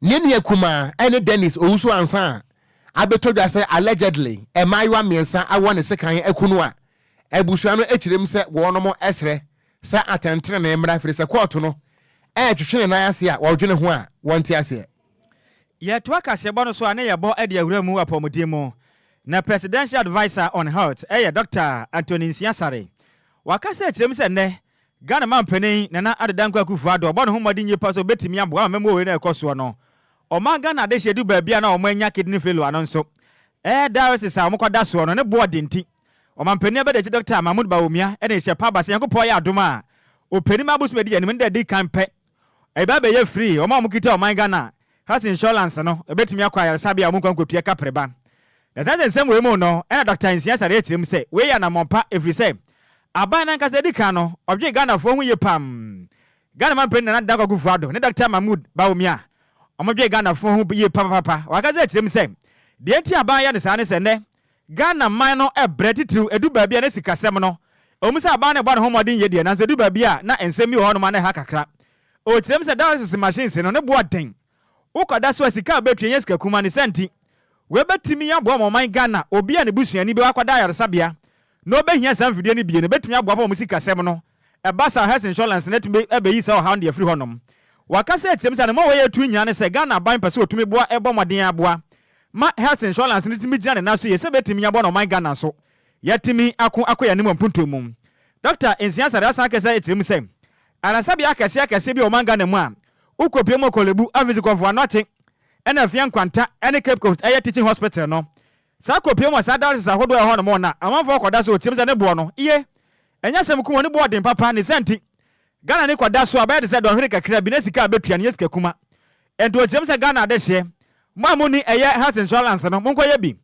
Ne nua kumaa ne Dennis owuso ansa a abɛtɔ dwa sɛ allegedly mmaayewa mmiɛnsa wɔ ne sekan kunu a abusua no kyerɛm sɛ wɔnom srɛ sɛ atɛntenenee mmra firi sɛ kɔɔto no retwetwe ne nan ase a wɔdwene ho a wɔnte aseɛ. Yɛtoa kaseɛbɔ no so a na yɛbɔ de awura mu apɔmuden mu. Na Presidential Adviser on Health yɛ Dɔkta Anthony Nsia Saree. Waka sɛ ɛkyerɛm sɛ nnɛ Ghana Mampanin Nana Addo Dankwa Akufo-Addo ɔbɔ ne ho mmɔden yie pa sɛ ɔbɛtumi aboa ama mmamu wei no ɛkɔ soɔ no. Ɔmaa Ghana adehyeɛ du baabi a na wɔn anya kidney failure no nso. Ɛɛ dialysis a wɔn kɔ da soɔ no ne boɔ den nti. Ɔmampanin abɛdakyi Dɔkta Mahmood Bawumia ɛna ɛhyɛ pa aba sɛ Nyankopɔn ayɛ adom a, ɔpɛni ma abosome adi anim no da ɛdi kan pɛ Ɛba abɛyɛ firi wɔn a wɔkita ɔman Ghana Health Insurance no bɛtumi akɔ ayaresabea a wɔnkɔ nkɔpia kapre ba. Na saa nsɛnsɛm wei mu no na Dɔkta Nsia Saree kyerɛ mu sɛ wei yɛ anammɔn pa ɛfiri sɛ aban no ankasa di kan no ɔdwen Ghanafoɔ ho yie pam. Ghana manpanin Nana Dankwa Akufo-Addo ne Dɔkta Mahmood Bawumia wɔdwen Ghanafoɔ ho yie papapapa. Wɔankasa kyerɛ mu sɛ deɛ nti a aban yɛ no saa ne sɛ nnɛ Ghana man no brɛ titiriw, edu baabi a na sikasɛm no, ɛwom sɛ aban no rebɔ ne ho mmɔden yɛ deɛ, nanso edu baabi a na nsɛm bi wɔ hɔnom a na ɛha kakra. Ɛwɔ kyerɛm sɛ dialysis machines no, ne bo aden. Wokɔda so a, sika a wobetua nyɛ sika kumaa, ne saa nti, wei betumi aboa ma ɔman Ghana. Obi a ne busuani bi akɔda ayaresabea na obehia saa mfidie no bi no, ebetumi aboa paa wɔn sikasɛm no. Ɛba saa a, Health Insurance no atumi abeyi saa ɔhaw no de afiri hɔnom. Wɔaka sɛ atiam sɛ ade ma wɔyɛ atu nyaa ne sɛ Ghana aban pɛ sɛ wɔtumi boa bɔ mmɔden ara boa ma Health Insurance no tumi gyina ne nan so yie sɛ ɛbɛtumi aboa na ɔman Ghana nso yɛatumi ako akɔ yɛn anim wɔ mpontuo mu. Dɔkta Nsia Sarah asan aka sɛ ɛkyerɛ mu sɛ ayaresabea akɛseɛ akɛseɛ bi wɔ ɔman Ghana mu a wokɔpue mu wɔ Korle Bu, Afisi, Korfo Anokye, ɛna Afia Nkwanta ne Cape Coast ɛyɛ Teaching Hospital no. Saa kɔpue mu wɔ saa dialysis ahodoɔ a ɛwɔ hɔnom no na amanfoɔ kɔda so wɔ tiam sɛ ne boɔ no ye Ɛnyɛ asɛm ko, wɔn ani bɔ ɔden papa, ne saa nti, Ghana ani kɔ da so a, bɛyɛ te sɛ dɔnhwere kakra bi, na sika a bɛtua no nyɛ sika kuma. Ɛnto nkyerɛm sɛ Ghana adehyeɛ, mo a monni ɛyɛ health insurance no, monkɔyɛ bi,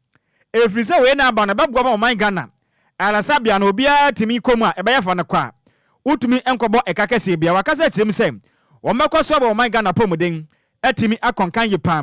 ɛfiri sɛ wei na aba no, ɛbɛboa ma ɔman Ghana, ayaresabea no, obiara tumi kɔ mu a, ɛbɛyɛ fa no kɔ a, wotumi nkɔbɔ ɛka kɛseɛ biara. Wakasa akyerɛ mu sɛ, wɔbɛkɔ so abɔ ɔman Ghana apɔmuden atumi akɔ nkan yie paa.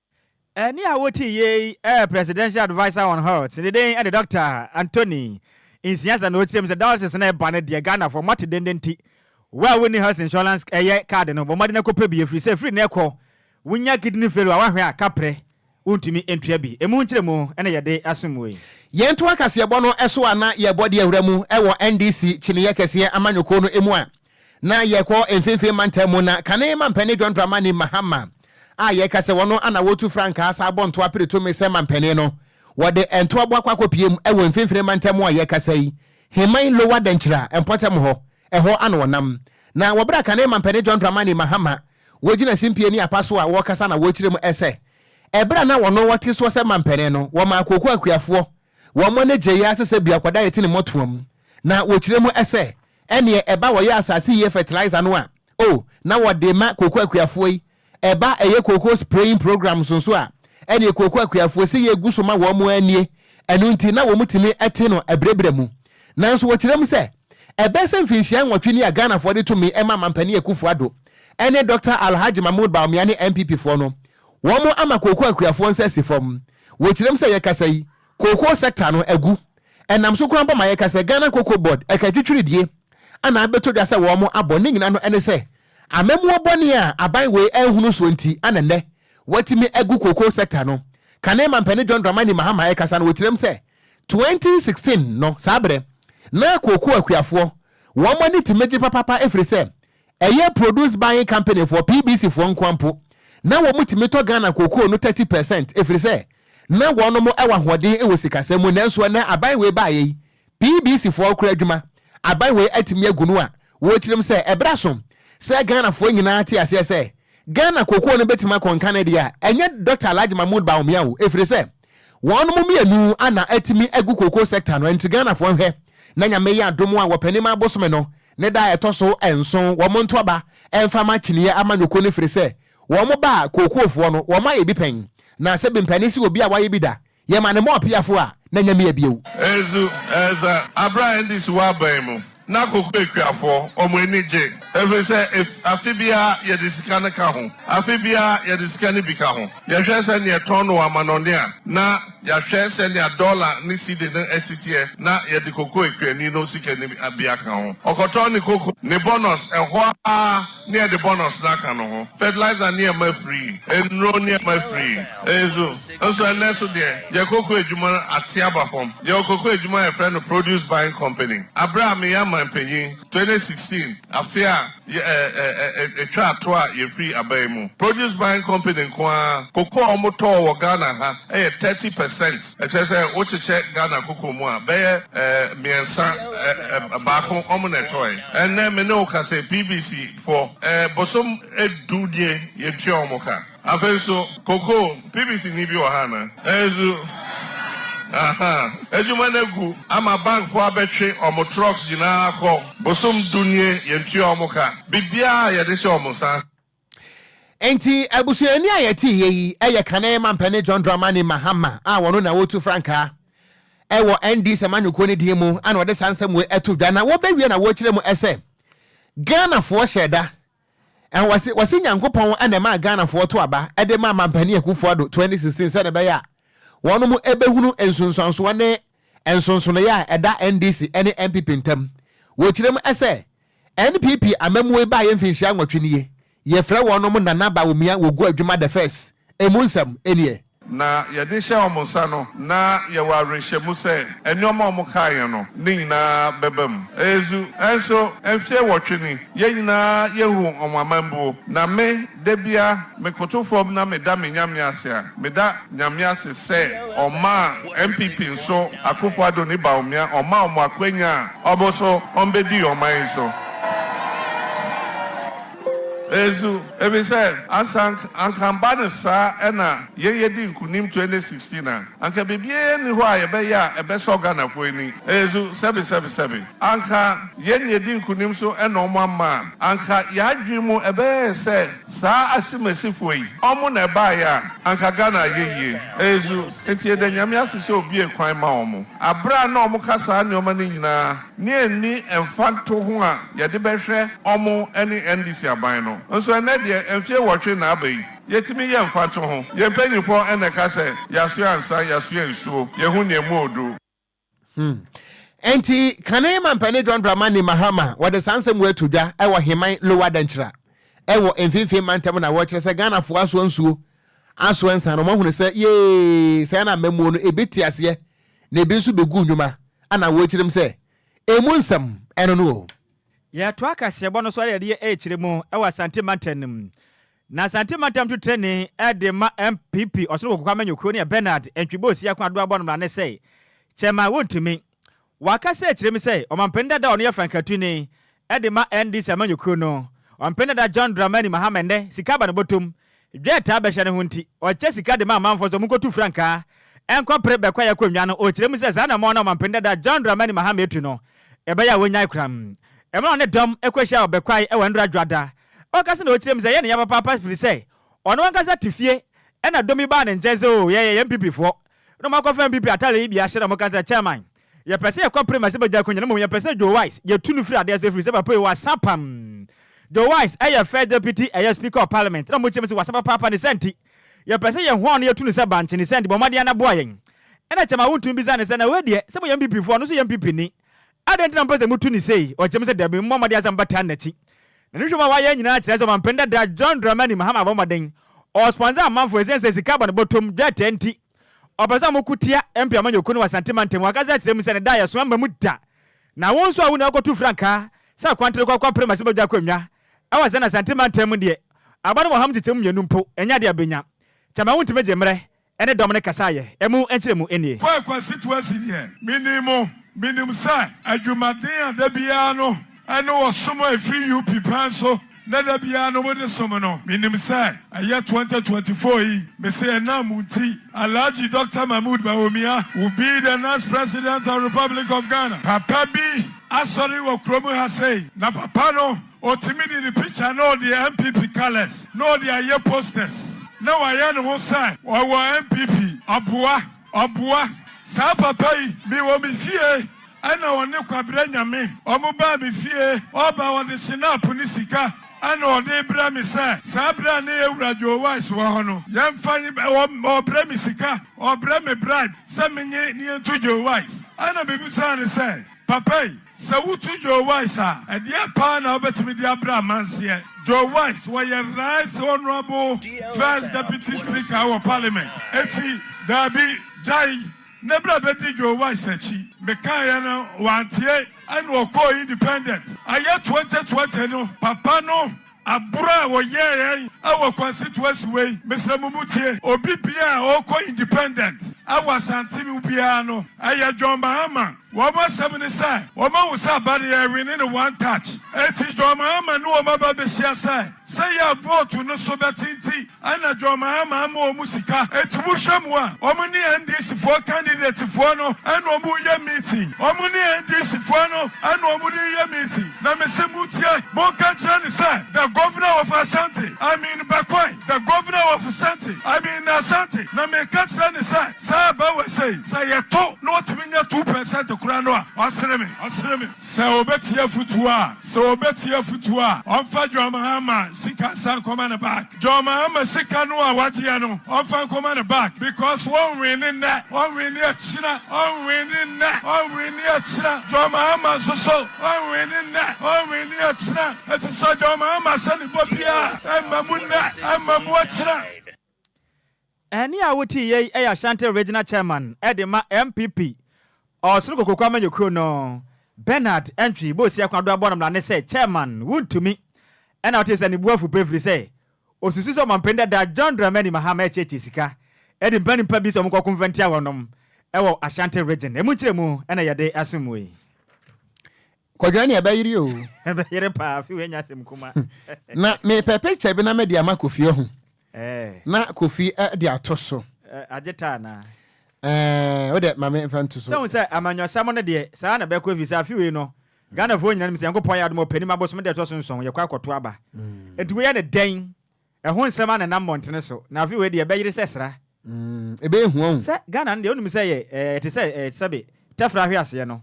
Ɛnne a wotii yei ɛyɛ Presidential Adviser on Health, ne din de Doctor Anthony Nsiasa na ɔkyerɛɛ mu sɛ dialysis no ɛba no deɛ Ghanafoɔ mo ate denden nti wo a wonni health insurance ɛyɛ card no bɔ mmɔden na kɔpɛ bi ɛfiri sɛ ɛfiri nnɛ kɔ wonya kidney failure a woahwɛ a kaprɛ wontumi ntua bi. Ɛmu nkyerɛmu na yɛde asom mo yi. Yɛntoa kaseɛbɔ no so a na yɛrebɔ de awura mu wɔ NDC kyineeɛ kɛseɛ amanyɔkuo no mu a na yɛkɔ mfimfini mantam mu na kane mampanin John Dramani Mahama a yɛka sɛ wɔn ana wɔtu frankaa saa bɔ ntoa pere tumi sɛ mampanin no. Wɔde ntoa boakɔ akɔpiem wɔ mfimfini mantam mu a yɛkasa yi, Heman Lower Denkyira mpɔtam hɔ, ɛhɔ ana wɔnam. Na wɔ bere a kane mampanin John Dramani Mahama wɔgyina simpie ne apa so a wɔkasa na wɔkyerɛ mu sɛ ɛbere a na wɔn wɔte soɔ sɛ mampanin no wɔmaa Kooko Akuafoɔ wɔn ani gyei ara sɛ sɛ biakɔda yɛte ne mmɔtoam na wɔkyerɛ mu sɛ Ɛneɛ ɛba wɔyɛ asase yie fertilizer no a oh na wɔde ma kooko akuafoɔ yi, ɛba ɛyɛ kooko spraying programs nso a ɛneɛ kooko akuafoɔ sɛ yɛ guso ma wɔn ara nie ɛno nti na wɔn tumi te no ɛbrɛbrɛ mu. Nanso wɔkyerɛ mu sɛ ɛbɛyɛ sɛ mfinhyia nwɔtwe ni a Ghanafoɔ de to me ma Mampanin Akuffo Addo ɛne Dɔkta Alhaji Mahmood Bawumia ne NPP foɔ no wɔn ama kooko akuafoɔ nsa asi fam. Wɔkyerɛ mu sɛ yɛ kasa yi kooko sector no agu Ɛnam so koraa mpo ma yɛka sɛ Ghana Cocoa Board ɛka atwitwiridie a na abɛtɔ dwa sɛ wɔn abɔ. Ne nyinaa no ɛne sɛ amammuo bɔne a aban wei anhunu soɔ nti a na nnɛ wɔatumi agu cocoa sector no kane Mampani John Dramani Mahama ɛkasa no ɔkyerɛm sɛ 2016 no saa berɛ na cocoa akuafoɔ wɔn ani tumi gye papapa ɛfiri sɛ Ɛyɛ Produce Buying Company foɔ, PBC, foɔ nkoa mpo na wɔtumi tɔ Ghana cocoa no thirty per cent ɛfiri sɛ na wɔnom wɔ ahoɔden wɔ sikasɛm mu nanso ɛnnɛ aban wei baeɛ yi PBC foɔ rekora adwuma aban wei atumi agu no a wɔrekyerem sɛ ɛberɛ aso sɛ Ghana foɔ nyinaa te aseɛ sɛ Ghana cocoa no bɛtumi akɔ nka ne deɛ a ɛnyɛ Doctor Alhaji Mahmood Bawumia o ɛfiri sɛ Wɔnom mmienu ana atumi agu cocoa sector no nti Ghanafoɔ nhwɛ na Nyame yɛ adom a wɔpɛnim abosome no ne da a ɛtɔ so nson wɔn nto aba mfa ma kyiniiɛ amanyɔkuo no firi sɛ wɔn ba a kookuofoɔ no wɔn ayɛ bi pɛn na sɛ bmpɛne sɛ obi a wayɛ bi da yɛma no mɔɔ peafoɔ a na Nyame abiew Ezu, Eza, Abra Ndis Wɔ Aban Mu. Na koko akuafoɔ, wɔn ani gye. Ɛfiri sɛ, ef, afe biara yɛde sika no ka ho. Afe biara yɛde sika no bi ka ho. Yɛhwɛ sɛdeɛ ɛtɔn no wɔ amanɔne a, na yɛahwɛ sɛdeɛ dɔla ne sidi no ɛte teɛ, na yɛde koko akuani no sika no bi aka ho. Ɔkɔtɔn ne koko, ne bɔnɔs, ɛhɔ ara. ne ɛde bɔnɔs no aka no ho, fɛtilaiza nneɛma firi, nnuro nneɛma firi, nso nso ɛnnɛ so deɛ yɛ koko adwuma ate aba fam. Yɛwɔ koko adwuma a yɛfrɛ no Produce Buying Company. Aberɛ a meyɛ amanpanyin, twenty sixteen, afe a yɛ ɛ ɛ ɛ ɛ ɛtwaa to a yɛfiri aban yi mu, Produce Buying Company nko ara, koko a wɔtɔ wɔ Ghana ha yɛ thirty percent. Ɛkyerɛ sɛ wokyekyɛ Ghana koko mu a, bɛyɛ mmiɛnsa, baako wɔn na ɛtɔe. Ɛnnɛ me ne wo kasa yi, PBC foɔ, bosom du nie yɛtua wɔn ka. Afei nso koko, PBC ni bi wɔ ha anaa? Ɛnso, ahaa, adwuma no agu ama bank foɔ abɛtwe wɔn trucks nyinaa akɔ, bosom du nie yɛntua wɔn ka. Biribiara a yɛde hyɛ wɔn nsa. Enti abusuani a yɛte yɛ yi yɛ kane ma Mpanin John Dramani Mahama a wɔno na wɔretu frankaa wɔ NDC amanyɔkuo no din mu na wɔde saa nsɛm wei ato dwa na wɔbɛwie na wɔrekyerɛ mu sɛ Ghanafoɔ hyɛ da Eh, wɔse wɔse Nyankopɔn na ɛmaa Ghanafoɔ to aba de maa Mampanin Akufo-Addo 2016 sɛdeɛ ɛbɛyɛ a wɔn mo ɛbɛhunu nsunsuansoɔ ne nsonsonoeɛ a ɛda NDC ne NPP ntam. Wɔkyerɛm sɛ, NPP amammuo baeɛ mfinhyia nwɔtwe nie, yɛfrɛ wɔnom Nana Bawumia Wogu Adwuma the First, ɛmu nsɛm nie. Na yɛde hyɛ wɔn nsa no, na yɛwɔ awerɛhyɛmu sɛ nneɛma a wɔkaeɛ no ne nyinaa bɛba mu. Ɛyɛ zu. Nso, mfeɛ nwɔtwe ni, yɛn nyinaa yɛhu wɔn amambuo, na me, Da biara mekoto fam na meda me Nyame ase a, meda Nyame ase sɛ ɔmaa NPP nso Akuffo Addo ne Bawumia ɔmaa wɔn akwanya a ɔbo so wɔbɛdii ɔman yi so. Nso efisɛ ansa anka anka mba no saa na yɛn yɛdii nkunim 2016 a. Anka biribiara nni hɔ a yɛbɛyɛ a ɛbɛsɔ Ghanafoɔ ani. Ɛyɛ zu, sɛbesɛbesɛbe. Anka yɛn na yɛdi nkunim so na wɔn amma a, anka yɛn adwene mu ɛbɛyɛ yɛn sɛ saa asimasifoɔ yi, wɔn na ɛbaeɛ a, anka Ghana ayɛ yie. Ɛyɛ zu. Enti yɛda Nyame ase sɛ ɔbuee kwan ma wɔn. Aberɛ a na wɔka saa nneɛma no nyinaa ne anni mfantoho a yɛde bɛhwɛ wɔn ne NDC aban no nso, ɛnnɛ deɛ mfeɛ nnwɔtwe na aba yi, Yɛtumi yɛ mfatoho. Yɛn mpanyimfoɔ na ɛka sɛ, Yɛasoɛ ansa, yɛasoɛ nsuo, yɛhu nea ɛmu ɔɔdu. Hmm. Enti, kane mampanin John Dramani Mahama wɔde saa nsɛm wei ato dwa wɔ Heman Lower Dankyira wɔ Mfimfini Mantam na wɔkyerɛ sɛ Ghanafoɔ asoa nsuo, asoa nsa na wɔahunu sɛ yee, sɛɛ na amammuo no ebi te aseɛ na ebi nso bɛgu nnwuma na wɔkyirim sɛ emu nsɛm ɛno no o. Yɛtoa kaseɛbɔ no so ara yɛde yɛ ɛrekyerɛ mu wɔ Asante Mantam no mu. Na Asante mantam to trenee de ma NPP Ɔsoro Koko Kwame Nyokro ne Bernard Antwibo Osiah ko Addo Abɔn mmara ne sɛ kyɛmma wontumi. Waka sɛ kyerɛ mu sɛ ɔmampanin dada a ɔno yɛ frankatuni de ma NDC Ama Nyokro no, ɔmampanin dada John Dramani Mahama nnɛ sika aba ne bɔtɔm, dwa a ɛtaa bɛhyɛ no ho nti ɔkyɛ sika de ma amanfoɔ sɛ wɔnkɔtu frankaa nkɔpere bɛkɔ a yɛkɔ nnwa no, ɔkyerɛ mu sɛ saa anammɔn no a ɔmampanin dada John Dramani Mahama atu no ɛbɛyɛ a wɔnyae koraa. Ɛma ɔne dɔm kɔhyia wɔ Bɛkwae wɔ Ndora Dwoada Ɔkasa na ɔkyerɛ mu sɛ yɛ ne ya papaapa firi sɛ ɔno ankasa te fie ɛna dɔm yi baa ne nkyɛn sɛ oo yɛyɛ yɛn PP foɔ na ɔmo akɔfa NPP ataare yi bi ahyɛ na ɔmo ka sɛ chairman yɛ pɛ sɛ yɛ kɔ prema sɛ bɛgya akonya na mmom yɛ pɛ sɛ Joe Wise yɛ tu no firi adeɛ so ɛfiri sɛ papa yi wasa pam Joe Wise ɛyɛ first deputy ɛyɛ speaker of parliament na ɔmo kyerɛ mu sɛ wasa papaapa ne saa nti yɛ pɛ sɛ yɛ hoa no yɛ tu no sɛ bankye ne saa nti bɔ mmɔden na boa yɛn ɛna chairman wo ntumi bisa no sɛ na wei deɛ sɛ mo yɛ NPP foɔ ɔno nso yɛ NPP ni Adɛn nti na mopɛ sɛ mutu no sei? Ɔteɛm sɛ, Dabi, mommɔ mmɔden asa mobɛtaa no n'akyi. Na nhwehwɛmu a wɔayɛ nyinaa kyerɛ sɛ ɔmampanin dada John Dramani Mahama abɔ mmɔden, ɔwɔ sponsor amanfoɔ ɛsiane sɛ sika bɔ ne bɔtɔm, dwɛɛtɛɛ nti. Ɔpɛ sɛ wɔko tia MP amanyɔkuo no wɔ Asante mantam, wakasa akyerɛ mu sɛ ne da a yɛsoa mma mu da. Na wo nso a wo nua kɔto frankaa sɛ akwantere kɔ akɔ pere ma sɛ bɛgya akonnwa ɛwɔ Asɛnɛ Asante mantam mu deɛ, aba no wɔ hamu kyekyɛmu mmienu mpo, ɛnyɛ adeɛ a bɛnya. Kyama wontumi gye mmerɛ Ɛne dɔm no kasa yɛ. Ɛmu nkyerɛmu nie. Kɔ Akwasi to asi deɛ menim mo. Menim sɛ adwumaden a da biara no ɛne ɔsom a ɛfiri UP pɛn so na da biara no mode som no, menim sɛ ɛyɛ 2024 yi, mese ɛnam mo nti. Alhaji Doctor Mahmood Bawumia will be the next President of Republic of Ghana. Papa bi asɔre wɔ kurom ha sei, na papa no. Ɔtumi de ne picture na ɔde NPP colours na ɔde ayɛ posters na wayɛ ne ho sɛ ɔwɔ NPP. Aboa! Aboa! Saa papa yi, mewɔ me fie ɛna ɔne Kwabrɛ Nyame ɔmo baa me fie, ɔɔba ɔde Shinap ne sika ɛna ɔdee brɛ me sɛ saa berɛ a ne yɛwura Joe Wise wɔ hɔ no yɛmfa ɔɔbrɛ me sika, ɔɔbrɛ me bribe sɛ menye ne yɛntu Joe Wise. Ɛna mebisaa no sɛ. Papa yi, sɛ wotu Joe Wise a, ɛdeɛn paa na wobɛtumi de abrɛ amanseɛ? Joe Wise, wɔyɛ Right Honourable First Deputy Speaker wɔ Parliament. Enti, daabi, gyae, na bra bɛdi Joe Wise akyi. Mekaeɛ no, wantie, ɛna ɔkɔɔ Independent. Ɛyɛ 2020 no, papa no. Aboro a wɔyɛɛ yɛn wɔ Kwasi Tuasi wɔ yi, mesrɛ mo mu tie. Obi biaa a ɔɔkɔ Independent wɔ Asante mu biaa no, ɛyɛ John Mahama. Wɔn asɛm ne sɛ, wɔn ahu sɛ aba no yɛɛwine no one touch. Enti John Mahama ne wɔn aba behyia sɛ, sɛ yɛ a vote no so bɛte nti, Ana Drɔmaa maa ama wɔn sika eti mo hwɛ mo a wɔn ne NDC foɔ candidate foɔ no ɛna wɔn reyɛ meeting wɔn ne NDC foɔ no ɛna wɔn de reyɛ meeting na me se mo tie mo nka nkyerɛ no sɛ the governor of Ashanti I mean Bakwai the governor of Ashanti I mean Ashanti na me ka kyerɛ no sɛ saa aba wɔ sei sɛ yɛ to na ɔtumi nya two percent koraa no a ɔsere me ɔsere me. Sɛ obetie afutu a. Sɛ obetie afutu a, ɔmfa John Mahama sika nsan nkɔma ne back. John Mahama sika no a wagyeɛ no, ɔmfa nkɔma ne back because wɔnwinne nnɛ, ɔnwinne akyina, ɔnwinne nnɛ, ɔnwinne akyina. John Mahama nso so, ɔnwinne nnɛ, ɔnwinne akyina. Enti sɛ John Mahama ahyɛ ne bɔ biara, ɛmma mu nnɛ, ɛmma mu akyina. Ɛnne a wote yei yɛ Ashanti Regional Chairman de ma NPP Ɔsono Kokoku amanyɔkuo no, Bernard Antwi Bosia Kwadwo abɔ no mmarane sɛ Chairman, wontumi. Ɛnna wote sɛ ne bo afu pɛ ɛfiri sɛ ɔsusu sɛ ɔmampanin dada John Dramani Mahama rekyeakyea sika de mpanimpa bi sɛ wɔnkɔko mfa ntia wɔnom wɔ Ashanti Region. Ɛmu nkyerɛmu na yɛde asom mo yi. Kwadwo ne ɛbɛyere oo. Ɛbɛyere paa afi w'anya asɛm kuma. Na mepɛ picture bi na mede ama Kofi ahu. Na Kofi de ato so. Agye taa anaa? Ɛɛ wo de ma me nfa nto so. Sɛ hu sɛ amanyɔsɛm no deɛ saa na ɛbɛkɔ efisɛ afi wei no Ghanafoɔ nyina nim sɛ Nyankopɔn ayɛ adom ɔpɛ nim abosom deɛ ɛtɔ so nson yɛkɔ akɔto aba. Nti woyɛ no dɛn Ɛho nsɛm a na ɛnam mmɔntene so, na afei wei deɛ ɛbɛyere sɛ sra. Ɛbɛyɛ hua o. Sɛ Ghana no deɛ wonim sɛ ɛyɛ te sɛ sɛbe tɛfra hweaseɛ no,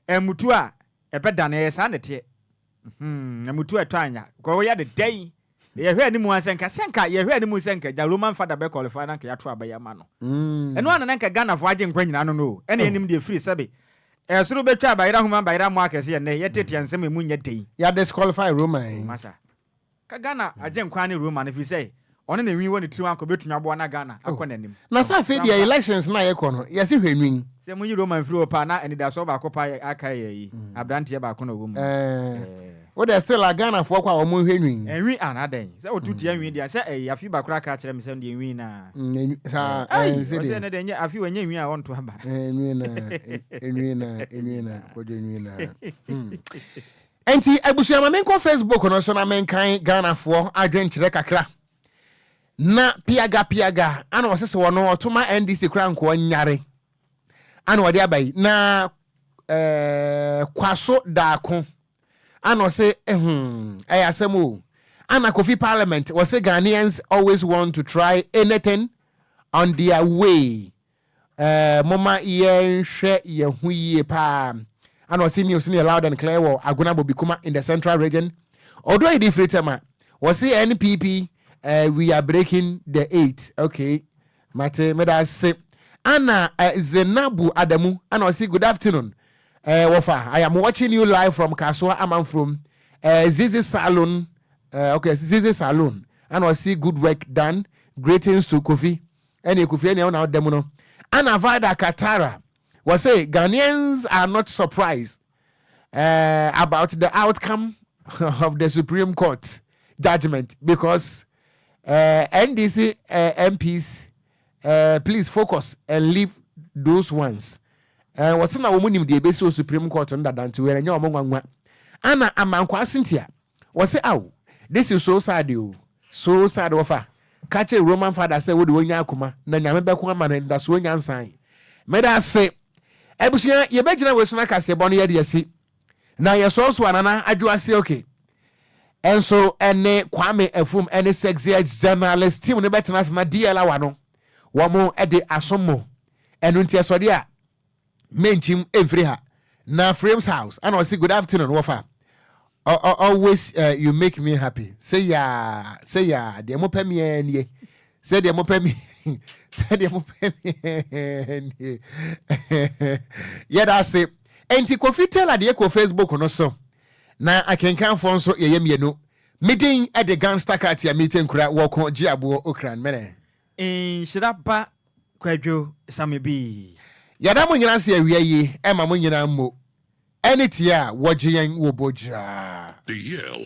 ɛmmutu a ɛbɛdane, ɛyɛ saa na ɛteɛ. Ɛmmutu a ɛtɔ anya, because woyɛ no dɛn, yɛhwɛ anim ara sɛ nka, sɛ nka yɛhwɛ anim sɛ nka gya Roman Father bɛ qualify na nka yɛato aba yi ama no. Ɛno ara na na nka Ghanafoɔ agye nkwa nyinaa no no o, ɛna yɛnim deɛ ɛfiri sɛbe ɛsoro bɛtwa abayera homa abayera mmoa akɛseɛ nnɛ, yɛteteɛ nsɛm a ɛmu nyɛ den. Yɛadisqualify Roman yi. Ka Ghana Agyenkwa ne Roma no firi sɛ ɔne ne nwi wɔ ne tirim anka ɔbɛtumi aboa na Ghana oh. akɔ n'anim. Na sɛ afei deɛ elections no a yɛkɔ no yɛse hwɛ nwi. Sɛ moyi Roma mfiri hɔ paa na anidasoɔ baako paa yɛ aka yɛ yi, mm. abranteɛ baako na ɔwɔ mu. Eh. Eh. Wodɛ still a Ghanafoɔ kɔ a wɔn nhwɛ nwi. Nwi ana dɛn? Sɛ wotu tia nwi deɛ sɛ ɛyɛ afi baako aka akyerɛ me sɛ deɛ nwi na. Mm, saa eh, ɛnsi deɛ. Ɔsɛ ne deɛ nyɛ afi wɔnyɛ nwi a wɔnto aba. Nwi na nwi na nwi na kɔdwe nwi na. Hmm. Enti abusua ma menkɔ Facebook no so na menkan Ghanafoɔ adwenkyerɛ kakra. Na piaga piaga ana ɔse se ɔno ɔto ma NDC koraa nkoa nyare ana ɔde aba yi na eh, kwaso daako ana ɔse ehm ɛyɛ asɛm o ana Kofi parliament ɔse Ghanaians always want to try anything on their way Ɛɛ momma yɛnhwɛ yɛn ho yie paa. Ana ɔse news no yɛ loud and clear wɔ Agona Bobikuma in the central region. Odo Edi firi Tema. Ɔse NPP eh, we are breaking the eight. Okay, mate meda ase. Ana eh, Zenabu Adamu ana ɔse good afternoon. Eh, wɔfa I am watching you live from Kasoa Amanfurom eh, Zizi Salon. Eh, okay, Zizi Salon ana ɔse good work done. Greetings to Kofi. Ɛne Akufi ɛne wona woda mu no. Ana Vida Katara was say Ghanaians are not surprised uh, about the outcome of the Supreme Court judgment because uh, NDC uh, MPs uh, please focus and leave those ones. Uh, wɔse na wɔn nim deɛ ebesi wɔ Supreme Court no dada nti wɔn nyɛ wɔn nwanwa. Ana Amankwa Cynthia Wɔse aw this is so sad oo so sad wɔfa ka kyere Roman father sɛ wode wɔnya akoma na nyame bɛko ama no anidasoɔ nyansan medase abusua yɛbɛgyina wei so na kaseɛ bɔ no yɛde asi na yɛsɔɔsoa nana adwo ase ok ɛnso ɛne Kwame Afum ɛne sexy journalist team no bɛtena ase na DL awa no wɔn de asom mo ɛno nti ɛsɔde a menkyim mfiri ha na frames house ana ɔsi good afternoon wɔfa always uh, you make me happy sɛ yaa sɛ yaa deɛ mopɛ meɛ nie sɛ deɛ mopɛ me sɛ deɛ mopɛ meɛ nie yɛda ase ɛnti kofi tela deɛ kɔ facebook no so na akenkanfoɔ nso yɛyɛ mmienu medin de gangster katia mete nkura wɔko gye aboɔ okran mene nhyira ba Kwadwo sa me bi. Yɛda mo nyina ase awia yi ɛma mo nyina mo ɛne tie a wɔgye yɛn wɔ bɔ gyiraa. Eyel